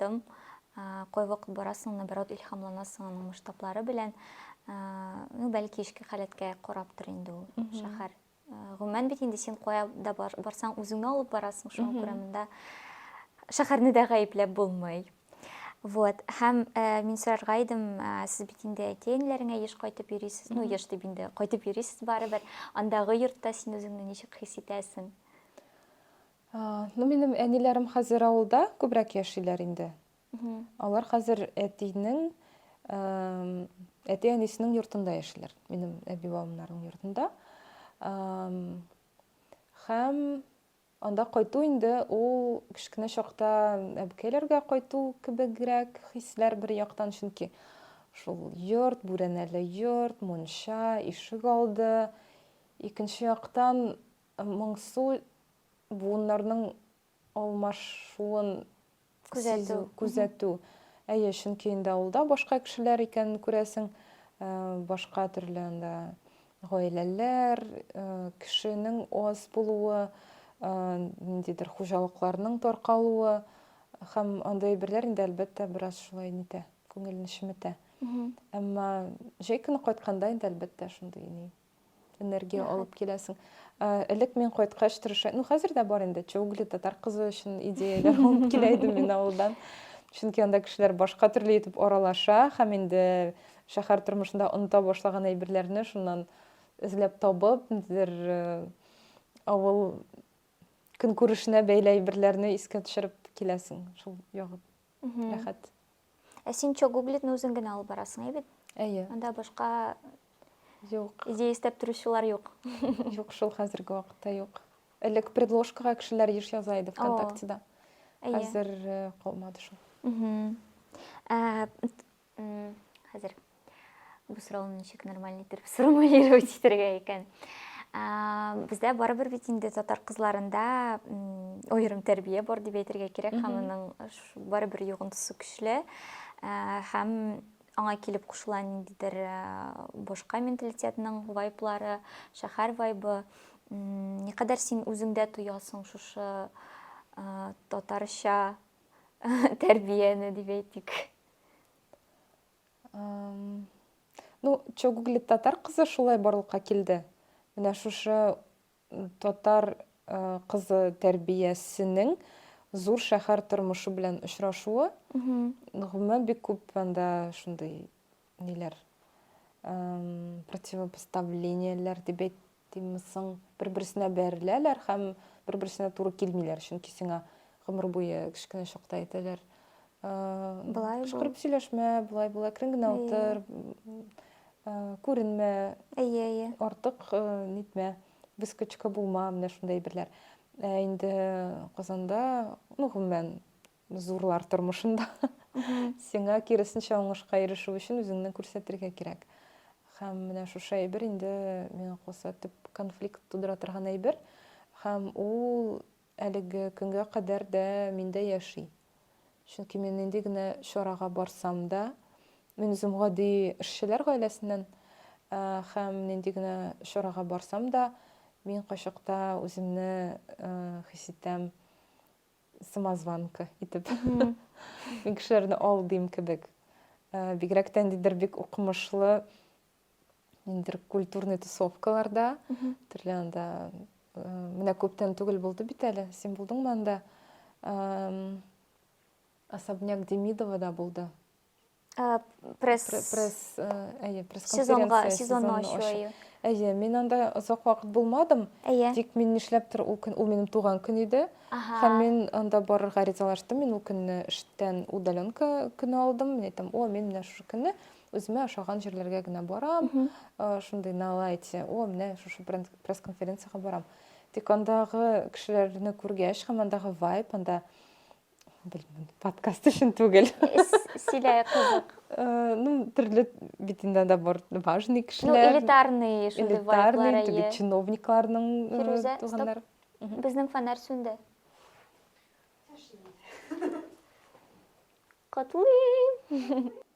Тым кайвакыт барасың, наоборот, илһамланасың аның масштаблары белән. Ну, бәлки эчке халәткә карап тор инде ул шәһәр. Гомумән бит инде син кая да барсаң, үзеңне алып барасың, шуңа күрә монда шәһәрне дә гаепләп булмый. Вот. Һәм э, мин сорарга идем, э, сез бит инде әтиәниләреңә еш кайтып йөрисез, ну еш дип инде кайтып йөрисез барыбер. Андагы йортта син үзеңне ничек хис итәсең? Ну, минем әниләрем хәзер авылда күбрәк яшиләр инде. Алар хәзер әтинең, әти әнисенең йортында яшиләр, минем әби бабамнарның йортында. Һәм анда кайту инде ул кечкенә чакта әбекәйләргә кайту кебегрәк хисләр бер яктан, чөнки шул йорт, бүрәнәле йорт, мунча, ишек алды. Икенче яктан Моңсу буыннарның алмашуын сизү, күзәтү. Әйе, чөнки инде авылда башка кешеләр икәнен күрәсең, башка төрле анда гаиләләр, кешенең аз булуы, ниндидер хуҗалыкларның таркалуы һәм андый әйберләр инде, әлбәттә, бераз шулай нитә, күңелне чеметә. Әмма җәй көне кайтканда инде, әлбәттә, шундый энергия Рәхәт. алып киләсең. Ә, элек мин кайткач тырыша, ну хәзер дә бар инде, чоугли татар кызы өчен идеяләр алып килә идем мин авылдан. Чөнки анда кешеләр башка төрле итеп аралаша һәм инде шәһәр тормышында оныта башлаган әйберләрне шуннан эзләп табып, ниндидер э, авыл көнкүрешенә бәйле әйберләрне искә төшереп киләсең. Шул ягып рәхәт. Ә син чок гуглитны үзең генә алып барасың, әйбит? Әйе. Анда башка юк. Идея эстәп торучылар юк. Юк, шул хәзерге вакытта юк. Элек предложкага кешеләр еш яза иде ВКонтактеда. Хәзер э, калмады шул. Хәзер Бу сорауны ничек нормаль итеп сформулировать итәргә икән? Бездә барыбер бит инде татар кызларында аерым тәрбия бар дип әйтергә кирәк, һәм аның барыбер йогынтысы көчле. Һәм аңа килеп кушыла ниндидер башка менталитетның вайблары, шәһәр вайбы. Никадәр син үзеңдә тоясың шушы татарча тәрбияне дип әйтик? Ну, чё гуглит татар кызы шулай барлыкка килде. Менә шушы татар кызы тәрбиясенең зур шәһәр тормышы белән очрашуы. Гомумән бик күп анда шундый ниләр противопоставлениеләр дип Тиммсон, бер-берсенә бәреләләр һәм бер-берсенә туры килмиләр, чөнки сиңа гомер буе кечкенә чакта әйтәләр, Болай кычкырып сөйләшмә, болай болай әкрен генә утыр, күренмә, артык нитмә, выскочка булма, менә шундый әйберләр. Ә инде Казанда, ну, гомумән, Зурлар тормышында сиңа киресенчә уңышка ирешү өчен үзеңне күрсәтергә кирәк. Һәм менә шушы әйбер инде миңа калса төп конфликт тудыра торган әйбер. Һәм ул әлеге көнгә кадәр дә миндә яши. Чөнки мин нинди генә чарага барсам да, мин үзем гади эшчеләр гаиләсеннән э, һәм нинди генә чарага барсам да, мин кайчакта үземне э, хис итәм самозванка итеп мин кешеләрне алдыйм кебек э, бигрәк тә ниндидер бик укымышлы ниндидер культурный тусовкаларда төрле анда э, менә күптән түгел булды бит әле син булдыңмы анда особняк демидовада булды Ә, пресс... Пресс, э, әйе, пресс-конференция. Сезонга, ачу, әйе. Әйе, мин анда озак вакыт булмадым. Әйе. Тик мин нишләптер ул көн, ул минем туган көн иде. Ага. Һәм мин анда барырга ризалаштым. Мин ул көнне эштән удаленка көне алдым. Мин әйтәм, о, мин менә шушы көнне үземә ошаган җирләргә генә барам. Э, шундый на лайте. О, менә шушы пресс-конференциягә барам. Тик андагы кешеләрне күргәч, һәм андагы вайп, анда Белмим, подкаст өчен түгел. Силәй кызык. Э, ну, төрле бит инде анда бар важный кешеләр. Ну, элитарный шундый вайблар. Элитарный, теге чиновникларның э, Фирүзә, стоп. Безнең фонарь сүнде. Котлыйм.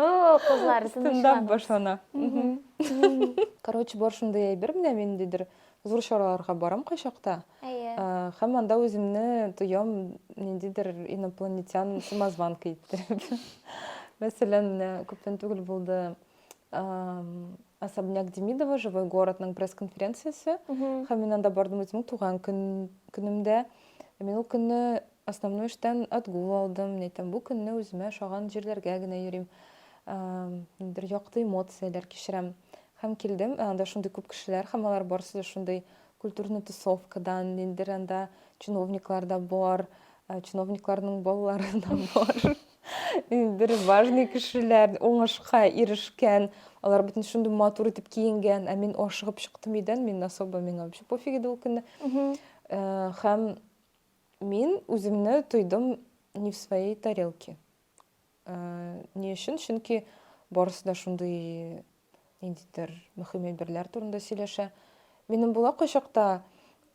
О, кызлар, тынычланыгыз. башлана. Короче, бар шундый әйбер менә ниндидер зур чараларга барам кайчакта. Әйе. Һәм анда үземне тоям ниндидер инопланетян самозванка иттереп. Мәсәлән, менә күптән түгел булды особняк Демидова живой городның пресс-конференциясе. Һәм мин анда бардым үземнең туган көнемдә. Мин ул көнне Основной эштән отгул алдым. Мин әйтәм, бу көнне үземә ошаган җирләргә генә йөрим. Ниндидер якты эмоцияләр кичерәм. Һәм килдем, ә анда шундый күп кешеләр, һәм алар барысы да шундый культурный тусовкадан, ниндидер анда чиновниклар да бар, чиновникларның балалары да бар. Ниндидер важный кешеләр, уңышка ирешкән, алар бөтен шундый матур итеп киенгән, ә мин ашыгып чыктым өйдән, мин особо миңа вообще пофиг иде ул көнне. Һәм Мин үземне тойдым не в своей тарелке. Ни өчен? Чөнки барысы да шундый ниндидер мөһим әйберләр турында сөйләшә. Минем була кайчакта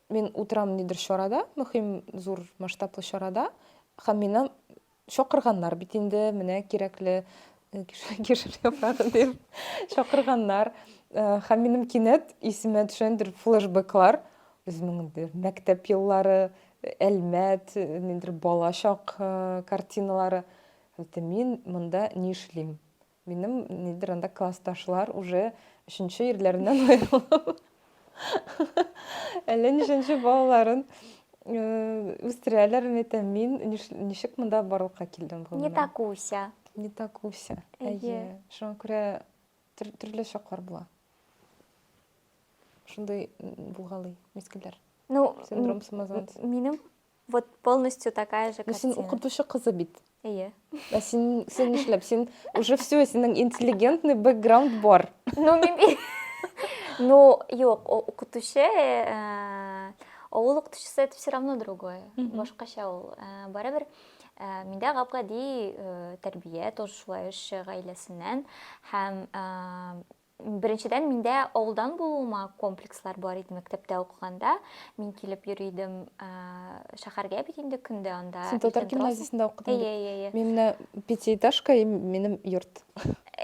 мин утырам нидер чарада, мөһим зур масштаблы чарада, һәм минем Чакырганнар бит инде, менә кирәкле кишер яфрагы дип чакырганнар. Һәм минем кинәт исемә төшәндер флешбеклар. Үземнең мәктәп еллары, Әлмәт, ниндер балачак картиналары. Мин монда ни эшлим? Минем нидер анда классташлар уже өченче ирләреннән аерылып, әллә ничәнче балаларын э, үстерәләр мәтә мин ниш- ничек монда барлыкка килдем бу Не менә? такуся. не такуся Әйе. әйе шуңа күрә төр- төрле чаклар була шундый м, булгалый мизгелләр Ну, м, синдром самозванца минем Вот полностью такая же картина. Син укытучы кызы бит. Әйе. Ә син син нишләп? Син уже все, синең интеллигентный бэкграунд бар. Ну, мин Ну, юк, укытучы, э, авыл укытучысы это все равно другое. Башкача ул. Э, барыбер э, миндә гап-гади тәрбия, тоже шулай эш гаиләсеннән һәм Беренчедән, миндә авылдан булуыма комплекслар бар иде мәктәптә укыганда. Мин килеп йөри идем ә, шәһәргә бит инде көн дә анда. Син татар иртән торасың. гимназиясендә укыдың Әйе, бит. әйе, әйе. Мин менә пятиэтажка и минем йорт.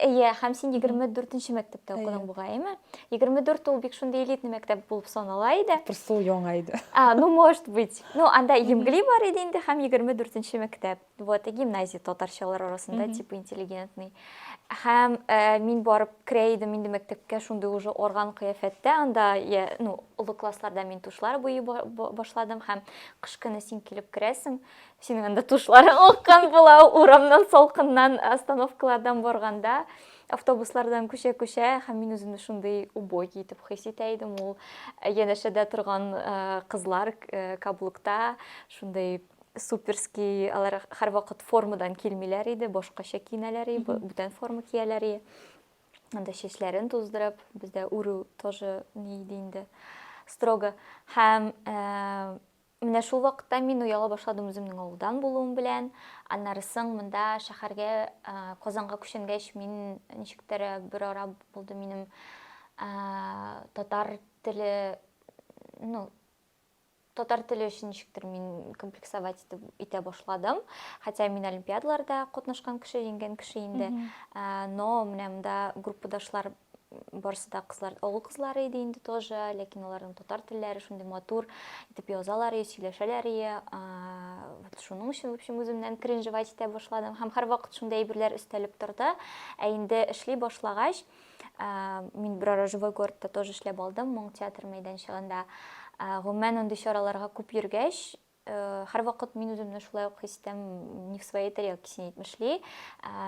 Әйе, һәм син 24-нче мәктәптә Әйе. укыдың бугайымы? 24 ул бик шундый элитный мәктәп булып санала иде. Просто ул яңа иде. А, ну, может быть. Ну, анда Емгли бар иде инде һәм 24-нче мәктәп. вот и гимназия татарчалар арасында mm -hmm. типа интеллигентный һәм ә, мин барып керә идем инде мәктәпкә шундый уже орган кыяфәттә анда я, ну олы классларда мин тушлар буй башладым һәм кыш көне син килеп керәсең синең анда тушларың аккан була урамнан салкыннан остановкалардан барганда автобуслардан күчә күчә һәм мин үземне шундый убогий итеп хис итә идем ул янәшәдә торган кызлар каблукта шундый Суперски, алар һәрвакыт формадан килмиләр иде, башкача киенәләр и, бүтән форма кияләр и. Анда чәчләрен туздырып, бездә үрү тоже ни иде инде, строго. Һәм менә шул вакытта мин уяла башладым үземнең авылдан булуым белән. Аннары соң монда шәһәргә, Казанга күченгәч, мин ничектер бер ара булды минем татар теле, ну, татар теле өчен ничектер мин комплексовать итеп итә башладым хотя мин олимпиадаларда катнашкан кеше җиңгән кеше инде ә, но менә монда группадашлар барысы да кызлар олы кызлар иде инде тоже ләкин аларның татар телләре шундый матур итеп язалар и сөйләшәләр и вот шуның өчен в общем үземнән кринжевать итә башладым һәм һәрвакыт шундый әйберләр өстәлеп торды ә инде эшли башлагач мин берара живой городта тоже эшләп алдым моң театр мәйданчыгында гомумән андый чараларга күп йөргәч һәрвакыт мин үземне шулай ук хис итәм не в своей тарелке син әйтмешли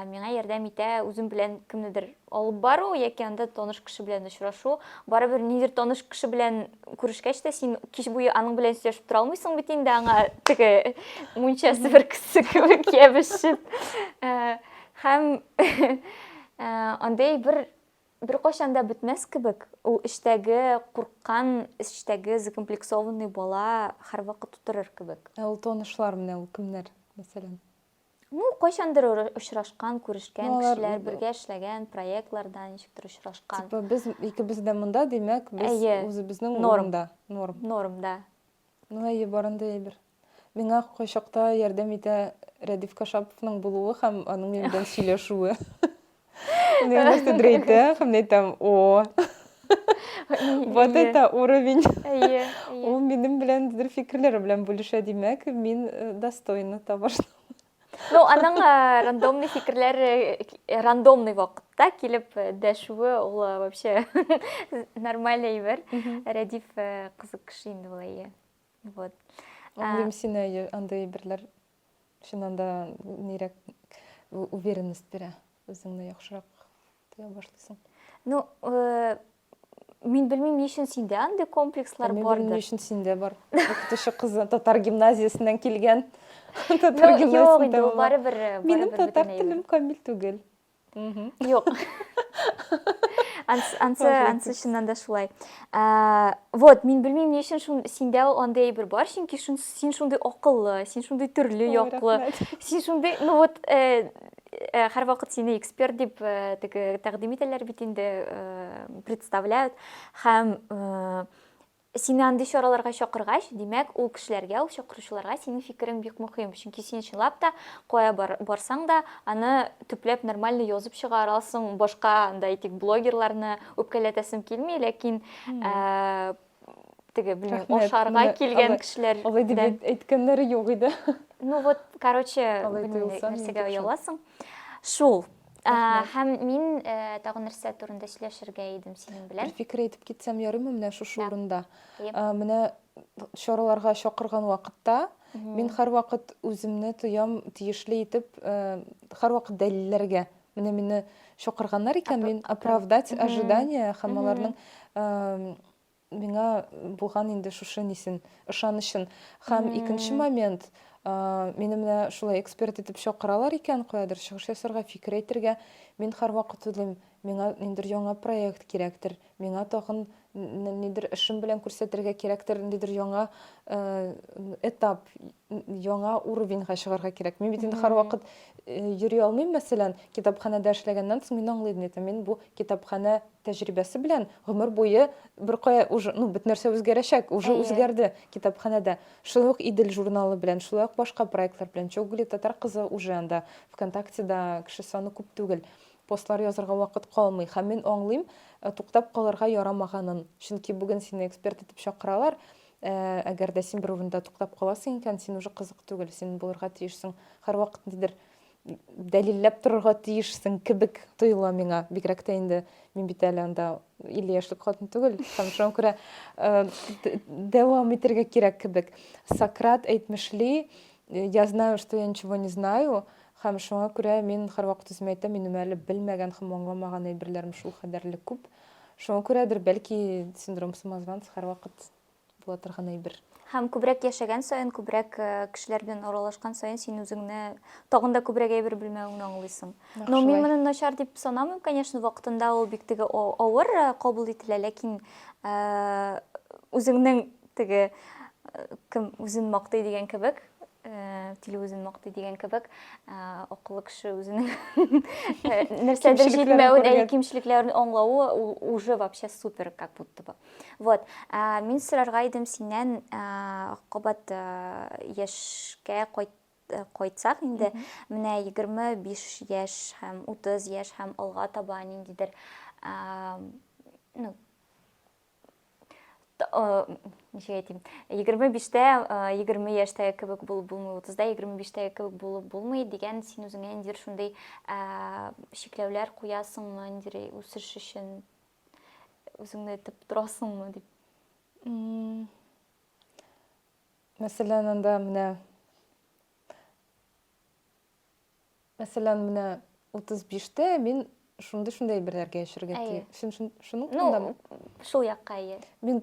миңа ярдәм итә үзем белән кемнедер алып бару яки анда таныш кеше белән очрашу барыбер нидер таныш кеше белән күрешкәч тә син кич буе аның белән сөйләшеп тора алмыйсың бит инде аңа теге мунчасы бер кесе кебек ябешеп һәм Ә, андый әйбер беркайчан да бетмәс кебек. Ул эчтәге курккан, эчтәге закомплексованный бала һәрвакыт утырыр кебек. Ә ул танышлар менә ул кемнәр, мәсәлән? Ну, кайчандыр ора- очрашкан, күрешкән Ну, алар- кешеләр, бергә эшләгән проектларда ничектер очрашкан. Типа без икебез дә монда, димәк, без Әйе. үзебезнең Норм. урында. Норм. Норм, да. Ну, әйе, бар андый әйбер. Миңа кайчакта ярдәм итә Рәдиф Кашаповның булуы һәм аның минем белән сөйләшүе. Мин нәрсәдер әйтәм һәм әйтәм, о, вот это уровень. Әйе. Ул минем белән дер фикерләре белән бүлешә, димәк, мин э, достойна того, что Ну, аның э, рандомный фикерләр э, рандомный вакытта килеп дәшүе ул вообще нормальный әйбер. Рәдиф кызык кеше инде ул әйе. Вот. Аңлыйм сине, андый әйберләр чыннан да нирәк уверенность бирә, үзеңне яхшырак тоя башлыйсың. Ну, э, мин белмим, ни өчен синдә андый комплекслар бардыр. Мин белмим, ни өчен синдә бар. Укытучы кызы татар гимназиясеннән килгән. Татар гимназиясеннән. Юк, инде ул барыбер. Минем татар телем камил түгел. Юк. Ансы, ансы чыннан да шулай. Ә, вот, мин белмим, ни өчен шун синдә ул андый әйбер бар, чөнки шун, син шундый акыллы, син шундый төрле яклы, син шундый, ну вот, э, э, һәр вакыт сине эксперт дип э, теге тәкъдим итәләр бит инде, э, представляют. Һәм э, Сине андый чараларга чакыргач, димәк, ул кешеләргә, ул чакыручыларга синең фикерең бик мөхим, чөнки син чынлап та кая барсаң да, аны төпләп нормально язып чыгарасың, башка анда әйтик блогерларны үпкәләтәсем килми, ләкин теге, белмим, ашарга килгән кешеләр. Алай дип әйткәннәре юк иде. Ну вот, короче, нәрсәгә ояласың. Шул. Ә, һәм мин ә, тагын нәрсә турында сөйләшергә идем синең белән. Бер фикер әйтеп китсәм ярыймы менә шушы урында? Әйе. Ә, Менә чараларга чакырган вакытта мин һәрвакыт үземне тоям тиешле итеп, ә, һәрвакыт дәлилләргә. Менә мине чакырганнар икән, мин оправдать ожидание һәм аларның ә, Миңа булган инде шушы нисен, ышанычын. Һәм икенче момент, мине менә шулай эксперт итеп чакыралар икән, каядыр чыгыш ясарга, фикер әйтергә. Мин һәрвакыт уйлыйм, миңа ниндер яңа проект кирәктер, миңа тагын нидер эшем белән күрсәтергә кирәктер, ниндидер яңа этап, яңа уровеньга чыгарга кирәк. Мин бит инде һәрвакыт йөри алмыйм, мәсәлән, китапханәдә эшләгәннән соң мин аңлыйм, мин бу китапханә тәҗрибәсе белән гомер буе беркая уже ну бит нәрсә үзгәрәчәк уже Әйе. үзгәрде китапханәдә шулай ук идел журналы белән шулай ук башка проектлар белән чогули татар кызы уже анда вконтактеда кеше саны күп түгел постлар язырга вакыт калмый һәм мин аңлыйм э, туктап калырга ярамаганын чөнки бүген сине эксперт итеп чакыралар э, әгәр дә син бер урында туктап каласың икән син уже кызык түгел син булырга тиешсең һәрвакыт нидер дәлилләп торырга тиешсең кебек тоела миңа. Бигрәк тә инде мин бит әле анда 50 яшьлек хатын түгел. Һәм шуңа күрә э, дәвам итәргә кирәк кебек. Сократ әйтмешли, я знаю, что я ничего не знаю, һәм шуңа күрә мин һәрвакыт үземә әйтәм, минем әле белмәгән һәм аңламаган әйберләрем шул кадәрле күп. Шуңа күрәдер, бәлки синдром самозванца һәрвакыт була торган әйбер. Һәм күбрәк яшәгән саен, күбрәк кешеләр белән аралашкан саен син үзеңне тагын да күбрәк әйбер белмәвеңне аңлыйсың. Но мин моны начар дип санамыйм, конечно, вакытында ул бик теге авыр кабул ителә, ләкин үзеңнең теге кем үзен мактый дигән кебек, тиле үзен мактый дигән кебек, акыллы кеше үзенең нәрсәдер җитмәвен, кимчелекләрен аңлавы уже вообще супер как будто бы. Вот, ә, мин сорарга идем синнән, ә, кабат ә, яшькә кайт кайтсак инде, менә 25 яшь һәм 30 яшь һәм алга таба ниндидер ә, ну, ничек әйтим, 25-тә, 20 яшьтәге кебек булып булмый, 30-да 25-тәге кебек булып булмый дигән син үзеңә ниндидер шундый ә, чикләүләр куясыңмы, ниндидер үсеш өчен Үзеңне әйтеп торасыңмы дип. Мәсәлән, анда менә Мәсәлән, менә 35-тә мин шундый-шундый әйберләргә яшәргә тиеш. Шуның турындамы? Ну, шул якка әйе. Мин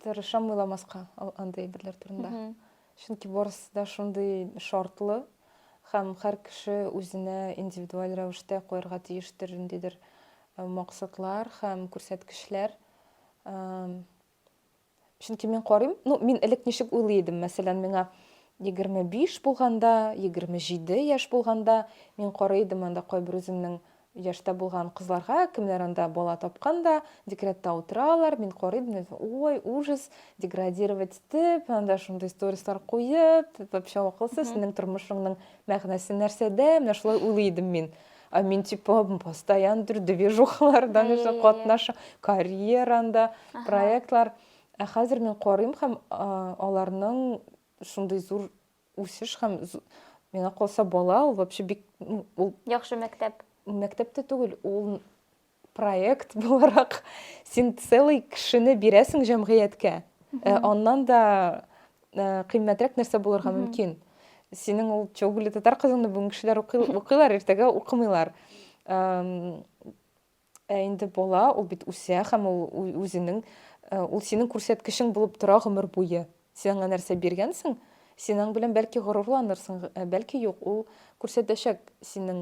Тырышам уйламаска андый әйберләр турында. Чөнки барысы да шундый шартлы һәм һәр кеше үзенә индивидуаль рәвештә куярга тиештер ниндидер максатлар һәм күрсәткечләр. Чөнки мин карыйм, ну, мин элек ничек уйлый идем, мәсәлән, миңа 25 булганда, 27 яшь булганда, мин карый идем анда кайбер үземнең Яшьтә булган кызларга, кемнәр анда бала тапкан да, декретта утыралар, мин карыйм, мин әйтәм, ой, ужас, деградировать итеп, анда шундый сторислар куеп, ты вообще акылсыз, синең тормышыңның мәгънәсе нәрсәдә, менә шулай уйлый идем мин. Ә мин типа постоянно бер движухалардан Әйе, өчен әйе. катнаша, карьеранда, Аха. проектлар. Ә хәзер мин карыйм һәм а, аларның шундый зур Үсеш һәм миңа калса бала ул вообще бик ул яхшы мәктәп. Мәктәп тә түгел, ул проект буларак син целый кешене бирәсең җәмгыятькә. Э, аннан да э, кыйммәтрәк нәрсә булырга мөмкин. Синең ул чоглы татар кызыңны бүген кешеләр укыйлар, иртәгә укымыйлар. Ә инде бала, ул бит үсә һәм ул үзенең, ул синең күрсәткечең булып тора гомер буе. Син аңа нәрсә биргәнсең, син аң белән бәлки горурланырсың, ә бәлки юк, ул күрсәтәчәк синең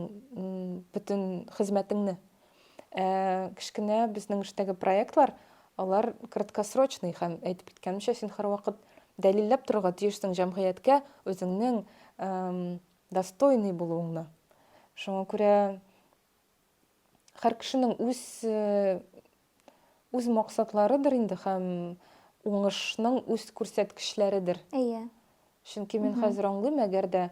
бөтен хезмәтеңне. Ә кечкенә безнең эштәге проектлар, алар краткосрочный һәм әйтеп киткәнемчә, син һәрвакыт дәлилләп торырга тиешсең җәмгыятькә үзеңнең достойный булуыңны. Шуңа күрә Хәр кешенең үз үз максатларыдыр инде һәм уңышның үз күрсәткечләредер. Әйе. Чөнки мин хәзер аңлыйм, әгәр дә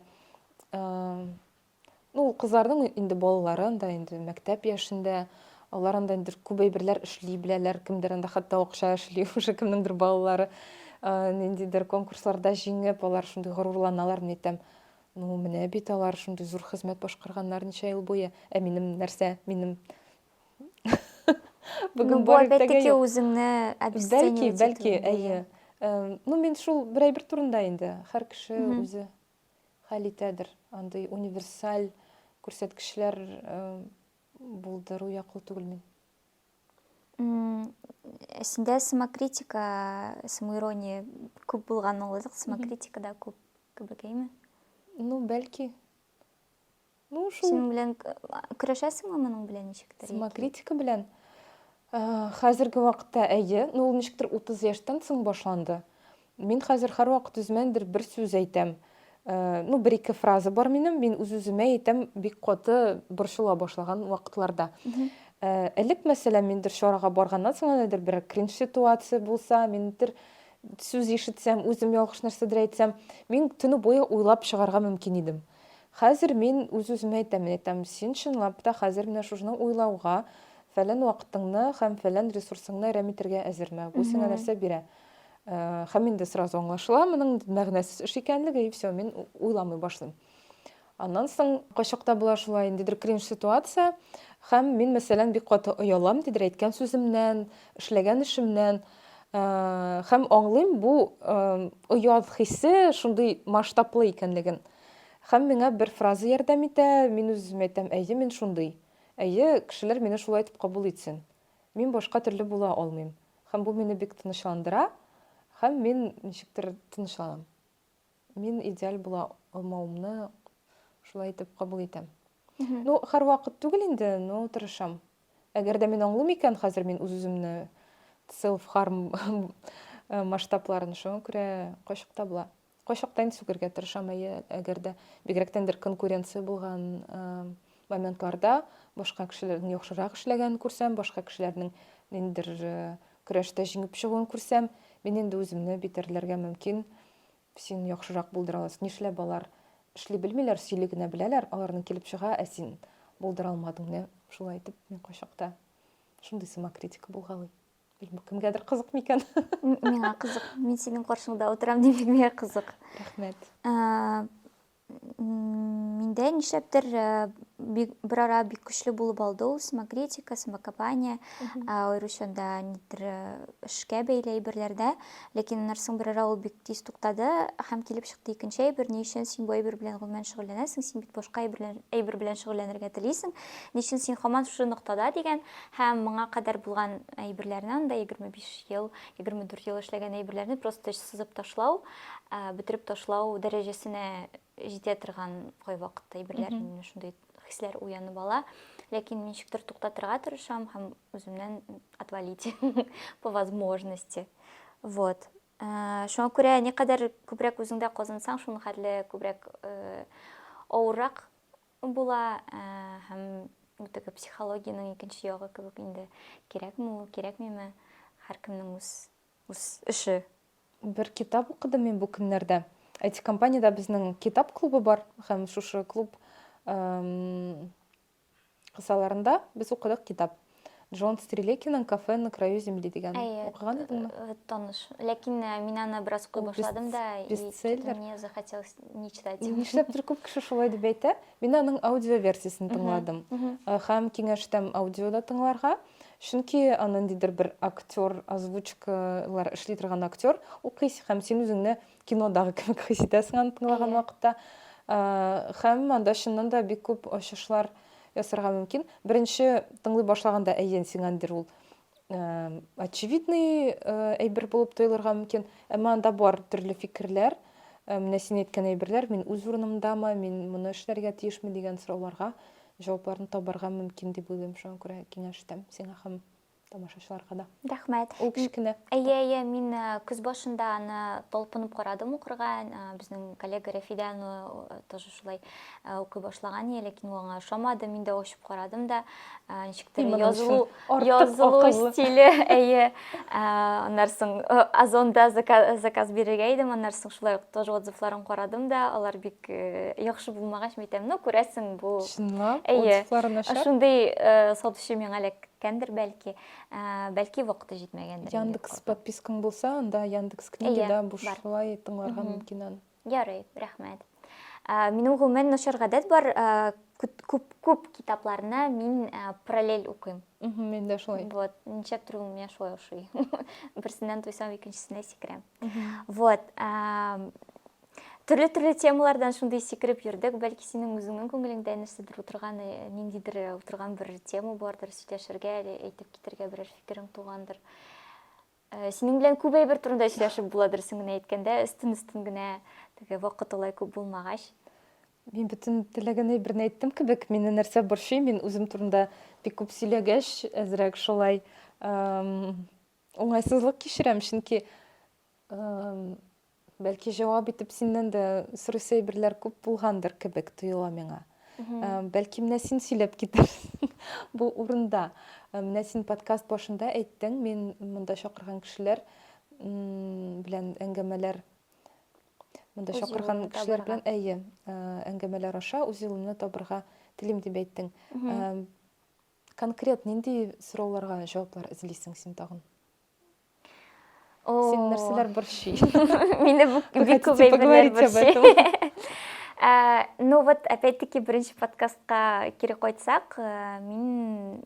ну, кызларның инде балалары анда инде мәктәп яшендә, алар анда инде күп әйберләр эшли беләләр, кемдер анда хәтта акча эшли, уже кемнеңдер балалары ниндидер конкурсларда җиңеп, алар шундый горурланалар, мин әйтәм, Ну, менә бит алар шундый зур хезмәт башкарганнар ничә ел буе. Ә минем нәрсә? Минем Бүген бар иртәгә юк. үзеңне Бәлки, бәлки, әйе. Ну, мин шул бер әйбер турында инде. Һәр кеше үзе хәл итәдер. Андый универсаль күрсәткечләр булдыру яклы түгел мин. Синдә самокритика, самоирония күп булган ул, самокритика да күп. Кебекәйме? Ну, бәлки. Ну, шул. Синең белән көрәшәсеңме моның белән ничектер? Самокритика белән. Хәзерге вакытта әйе, ну ул ничектер 30 яшьтән соң башланды. Мин хәзер һәрвакыт үзмәндер бер сүз әйтәм. Э, ну бер ике фраза бар минем мин үз үземә әйтәм бик каты борчыла башлаган вакытларда э, элек мәсәлән мендер чарага барганнан соң әнәдер бер кринж ситуация булса мендер сүз ишетсәм, үзем ялгыш нәрсәдер әйтсәм, мин төне буе уйлап чыгарга мөмкин идем. Хәзер мин үз-үземә әйтәм, әйтәм, син чынлап та хәзер менә шушны уйлауга, фәлән вакытыңны һәм фәлән ресурсыңны әрәм итәргә әзерме? Бу сиңа нәрсә бирә? Э, һәм инде сразу аңлашыла, моның мәгънәсез эш икәнлеге, и все, мин уйламый башлыйм. Аннан соң кайчакта була шулай, ниндидер кринж ситуация, һәм мин, мәсәлән, бик каты оялам, ниндидер әйткән сүземнән, эшләгән эшемнән. Һәм аңлыйм, бу оят хисе шундый масштаблы икәнлеген. Һәм миңа бер фраза ярдәм итә, мин үз-үземә әйтәм, әйе, мин шундый. Әйе, кешеләр мине шулай итеп кабул итсен. Мин башка төрле була алмыйм. Һәм бу мине бик тынычландыра, һәм мин ничектер тынычланам. Мин идеаль була алмавымны шулай итеп кабул итәм. Ну, һәрвакыт түгел инде, но тырышам. Әгәр дә мин аңлыйм икән, хәзер мин үз-үземне self harm э, масштабларын, шуңа күрә кайчакта була. Кайчакта инде сүгергә тырышам, әйе, әгәр дә бигрәктән бер конкуренция булган э, Моментларда башка кешеләрдән яхшырак эшләгәнен күрсәм, башка кешеләрнең ниндидер көрәштә җиңеп чыгуын күрсәм, мин инде үземне битәрләргә мөмкин. Син яхшырак булдыра аласың. Нишләп алар эшли белмиләр, сөйли генә беләләр, аларның килеп чыга, ә син булдыра алмадың менә шулай итеп. Мин кайчакта шундый самокритика булгалый. Белмим, кемгәдер кызык микән? Миңа кызык. Мин синең каршыңда утырам, димәк, миңа кызык. Рәхмәт. Миндә нишләптер берара бик көчле булып алды ул самокритика, самокопание, аеруча да нидер эшкә бәйле әйберләрдә. Ләкин аннан соң берара ул бик тиз туктады һәм килеп чыкты икенче әйбер, ни өчен син бу әйбер белән гомумән шөгыльләнәсең, син бит башка әйбер белән шөгыльләнергә телисең, ни өчен син һаман шушы ноктада дигән һәм моңа кадәр булган әйберләрне анда 25 ел, 24 ел эшләгән әйберләрне просто сызып ташлау, бетереп ташлау дәрәҗәсенә җитә торган кайвакытта әйберләр мине шундый хисләр уянып ала ләкин ничектер туктатырга тырышам һәм үземнән отвалить по возможности вот э, шуңа күрә никадәр күбрәк үзеңдә казансаң шуның хәтле күбрәк э, авыррак була э, һәм теге психологиянең икенче ягы кебек инде кирәкме ул кирәкмиме һәркемнең үз үз эше Бер китап укыдым мин бу көннәрдә. Әйтик, компаниядә безнең китап клубы бар һәм шушы клуб кысаларында без укыдык китап. Джон Стрелякинның Кафе на краю земли дигән. Укыган идеңме? Э, э, таныш. Ләкин э, мин аны бераз укый башладым да, бестселлер. Мне захотелось не читать. Нишләптер күп кеше шулай дип әйтә. Мин аның аудио версиясен тыңладым. Һәм киңәш итәм аудиода тыңларга. Чөнки ниндидер бер актер, озвучкалар эшли торган актер укыйсың һәм син үзеңне кинодагы кебек хис итәсең аны тыңлаган вакытта. Һәм анда чыннан да бик күп ачышлар ясарга мөмкин. Беренче тыңлый башлаганда әйен сиңәндер ул очевидный әйбер булып тоелырга мөмкин, әмма анда бар төрле фикерләр, менә син әйткән әйберләр, мин үз урынымдамы, мин моны эшләргә тиешме дигән сорауларга җавапларны табарга мөмкин дип уйлыйм, шуңа күрә киңәш итәм сиңа һәм тамашачыларга да. Рәхмәт. Ул кечкенә. Әйе, әйе, мин көз башында аны талпынып карадым укырга, безнең коллега Рәфидә аны тоже шулай укый башлаган иде, ләкин ул аңа ошамады, мин дә ачып карадым да, ничектер язылу, Язылу стиле, әйе. Аннан соң Озонда заказ бирергә идем, аннан соң шулай ук тоже отзывларын карадым да, алар бик яхшы булмагач, мин әйтәм, ну, күрәсең, бу. Чынлап, отзывлары начар? Әйе. Шундый сатучы миңа эләккәндер, бәлки. Бәлки вакыты җитмәгәндер. Яндекс подпискаң булса, анда Яндекс книга да бушлай тыңларга мөмкин аны. Ярый, рәхмәт. Ә, Минем гомумән начар гадәт бар, ә, күт- күп күп китапларны мин ә, параллель укыйм. Мгм, Мин дә шулай. Вот, ничектер ул миңа шулай ошый. Берсеннән туйсам, икенчесенә сикерәм. Вот, ам, төрле-төрле темалардан шундый сикереп йөрдек. Бәлки синең үзеңнең күңелеңдә нәрсәдер утырган, э, ниндидер э, утырган бер тема бардыр, сөйләшергә, әле әйтеп китәргә берәр фикерең тугандыр. Э, синең белән күп әйбер турында сөйләшеп була дөресен генә әйткәндә өстен өстен генә теге вакыт алай күп булмагач мин бөтен теләгән әйберне әйттем кебек мине нәрсә борчый мин үзем турында бик күп сөйләгәч әзрәк шулай уңайсызлык кичерәм чөнки Бәлки җавап итеп синнән дә сорыйсы әйберләр күп булгандыр кебек тоела миңа. Э, Бәлки менә син сөйләп китерсең бу урында. Э, Менә син подкаст башында әйттең, мин монда чакырган кешеләр м, белән әңгәмәләр монда Үз чакырган юлымны кешеләр табарга. белән әйе, э, әңгәмәләр аша үз юлымны табырга телим дип әйттең. Э, Конкрет нинди сорауларга җаваплар эзлисең син тагын? Син нәрсәләр борчый? Мине бик күп әйберләр борчый. Э, ну вот опять-таки беренче подкастка кире кайтсак, э, мин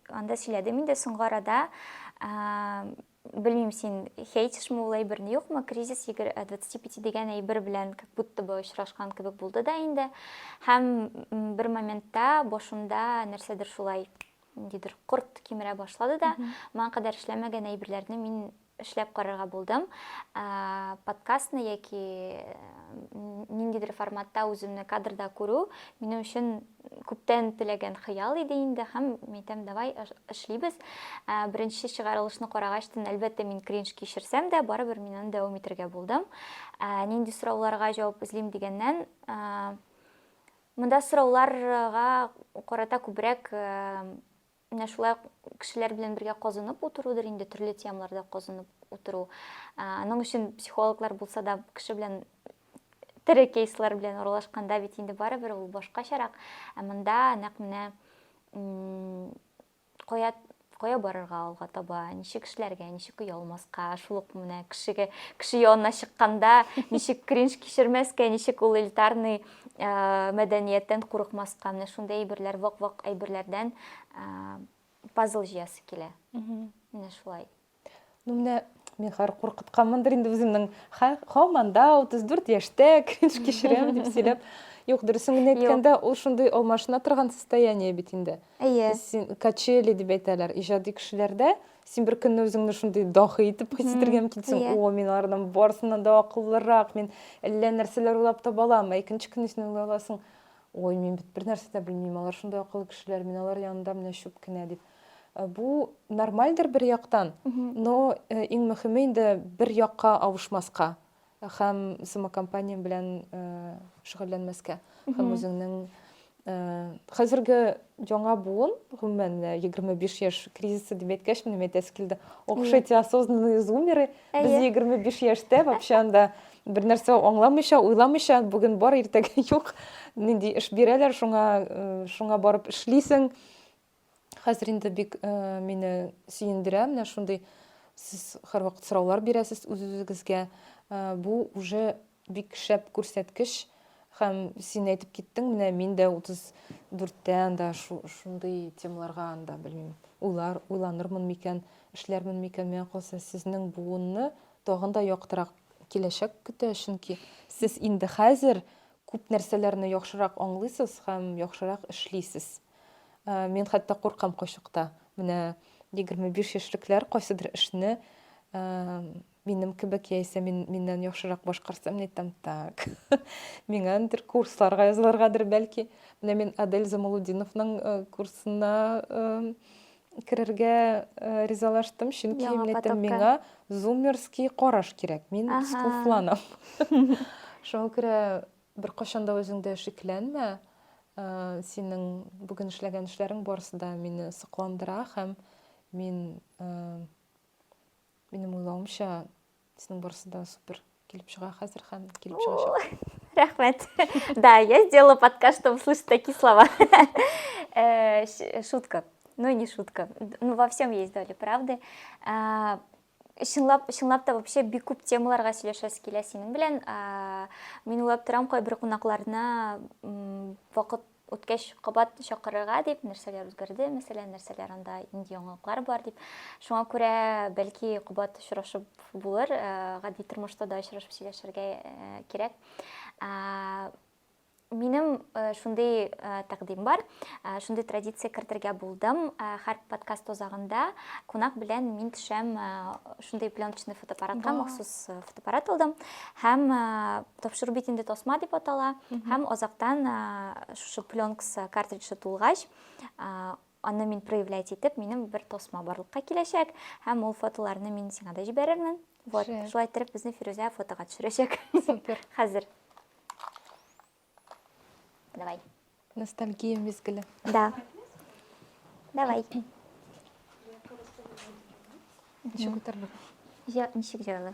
анда сөйләдем инде соңгы арада. Э, белмим син хейтишме ул әйберне юкмы кризис 25 дигән әйбер белән как будто бы очрашкан кебек булды да инде һәм бер моментта башымда нәрсәдер шулай ниндидер корт кимерә башлады да моңа кадәр эшләмәгән әйберләрне мин эшләп карарга булдым подкастны яки ниндидер форматта үземне кадрда күрү минем өчен күптән теләгән хыял иде инде һәм әйтәм давай эшлибез беренче чыгарылышны карагач тын әлбәттә мин кринж кичерсәм дә барыбер мин аны дәвам итәргә булдым нинди сорауларга җавап эзлим дигәннән Монда сорауларга карата күбрәк менә шулай ук кешеләр белән бергә казынып утырудыр инде, төрле темаларда казынып утыру. Аның өчен психологлар булса да, кеше белән тере кейслар белән аралашканда бит инде барыбер ул башкачарак. Ә монда нәкъ менә кая кая барырга алга таба ничек эшләргә ничек оялмаска шул ук менә кешегә кеше янына чыкканда ничек кринж кичермәскә ничек ул элитарный э, мәдәнияттән курыкмаска менә шундый әйберләр вак вак әйберләрдән э, пазл җыясы килә менә шулай Ну, менә мин хәзер куркытканмындыр инде үземнең. Һаман да 34 яшьтә кринж кичерәм дип сөйләп. Юк, дөресен генә әйткәндә, ул шундый алмашына торган состояние бит инде. Әйе. Син качели дип әйтәләр. Иҗади кешеләрдә син бер көнне үзеңне шундый дахи итеп хис итәргә мөмкинсең. О, мин алардан барсыннан да акыллырак, мин әллә нәрсәләр уйлап таба алам. Ә икенче көнне син уйлай аласың, ой, мин бит бер нәрсә дә белмим, алар шундый акыллы кешеләр, мин алар янында менә чүп кенә дип. Э, бу нормальдер бер яктан но э, иң мөхиме инде бер якка авышмаска һәм самокомпания белән э, шөгыльләнмәскә һәм үзеңнең хәзерге яңа буын гомумән егерме биш яшь кризисы дип әйткәч минем әйтәсе килде ох эти осознанные зумеры без егерме биш яшьтә вообще анда бер нәрсә аңламыйча уйламыйча бүген бар иртәгә юк нинди эш бирәләр шуңа шуңа барып эшлисең Хәзер инде бик э, мине сөендерә менә шундый сез һәрвакыт сораулар бирәсез үз-үзегезгә. Э, бу уже бик шәп күрсәткеч һәм син әйтеп киттең, менә мин дә 34-тә анда шундый темаларга анда белмим, уйлар, уйланырмын микән, эшләрмен микән, миңа калса сезнең буынны тагын да яктырак киләчәк көтә, чөнки сез инде хәзер күп нәрсәләрне яхшырак аңлыйсыз һәм яхшырак эшлисез. Мин хәтта куркам кайчакта. Менә 25 яшьлекләр кайсыдыр эшне минем кебек яисә мин, миннән яхшырак башкарса, мин әйтәм, так, миңа андыр курсларга язылыргадыр бәлки. Менә мин Адель Замалудиновның э, курсына э, керергә э, ризалаштым, чөнки Яңа мин әйтәм, миңа зумерский караш кирәк, мин скуфланам. Шуңа күрә Беркайчан да үзеңдә шикләнмә. Синең бүген эшләгән эшләрең барысы да мине сокландыра һәм мин минем уйлавымча синең барысы да супер килеп чыга хәзер һәм килеп чыгачак. Рәхмәт. Да, я сделала подкаст, чтобы слышать такие слова. Э, шутка. Ну, не шутка. Ну, во всем есть доля правды. А, Чынлап, чынлап та вообще бик күп темаларга сөйләшәсе килә синең белән. Мин уйлап торам, кайбер кунакларны вакыт үткәч кабат чакырырга дип, нәрсәләр үзгәрде, мәсәлән, нәрсәләр анда инде яңалыклар бар дип. Шуңа күрә бәлки кабат очрашып булыр, гади тормышта да очрашып сөйләшергә кирәк. Минем шундый тәкъдим бар, шундый традиция кертергә булдым. Һәр подкаст озагында кунак белән мин төшәм шундый пленочный фотоаппаратка, махсус фотоаппарат алдым. Һәм тапшыру бит инде тасма дип атала. Һәм озактан шушы пленкс картриджы тулгач, Аны мин проявлять итеп, минем бер тосма барлыкка киләчәк, һәм ул фотоларны мин сиңа да җибәрермен. Вот, шулай иттереп безне Фирүзә фотога төшерәчәк. Супер. Хәзер. Давай. Ностальгия мизгеле. Да. Давай. Ничек күтәрелеп? Ничек җайлы?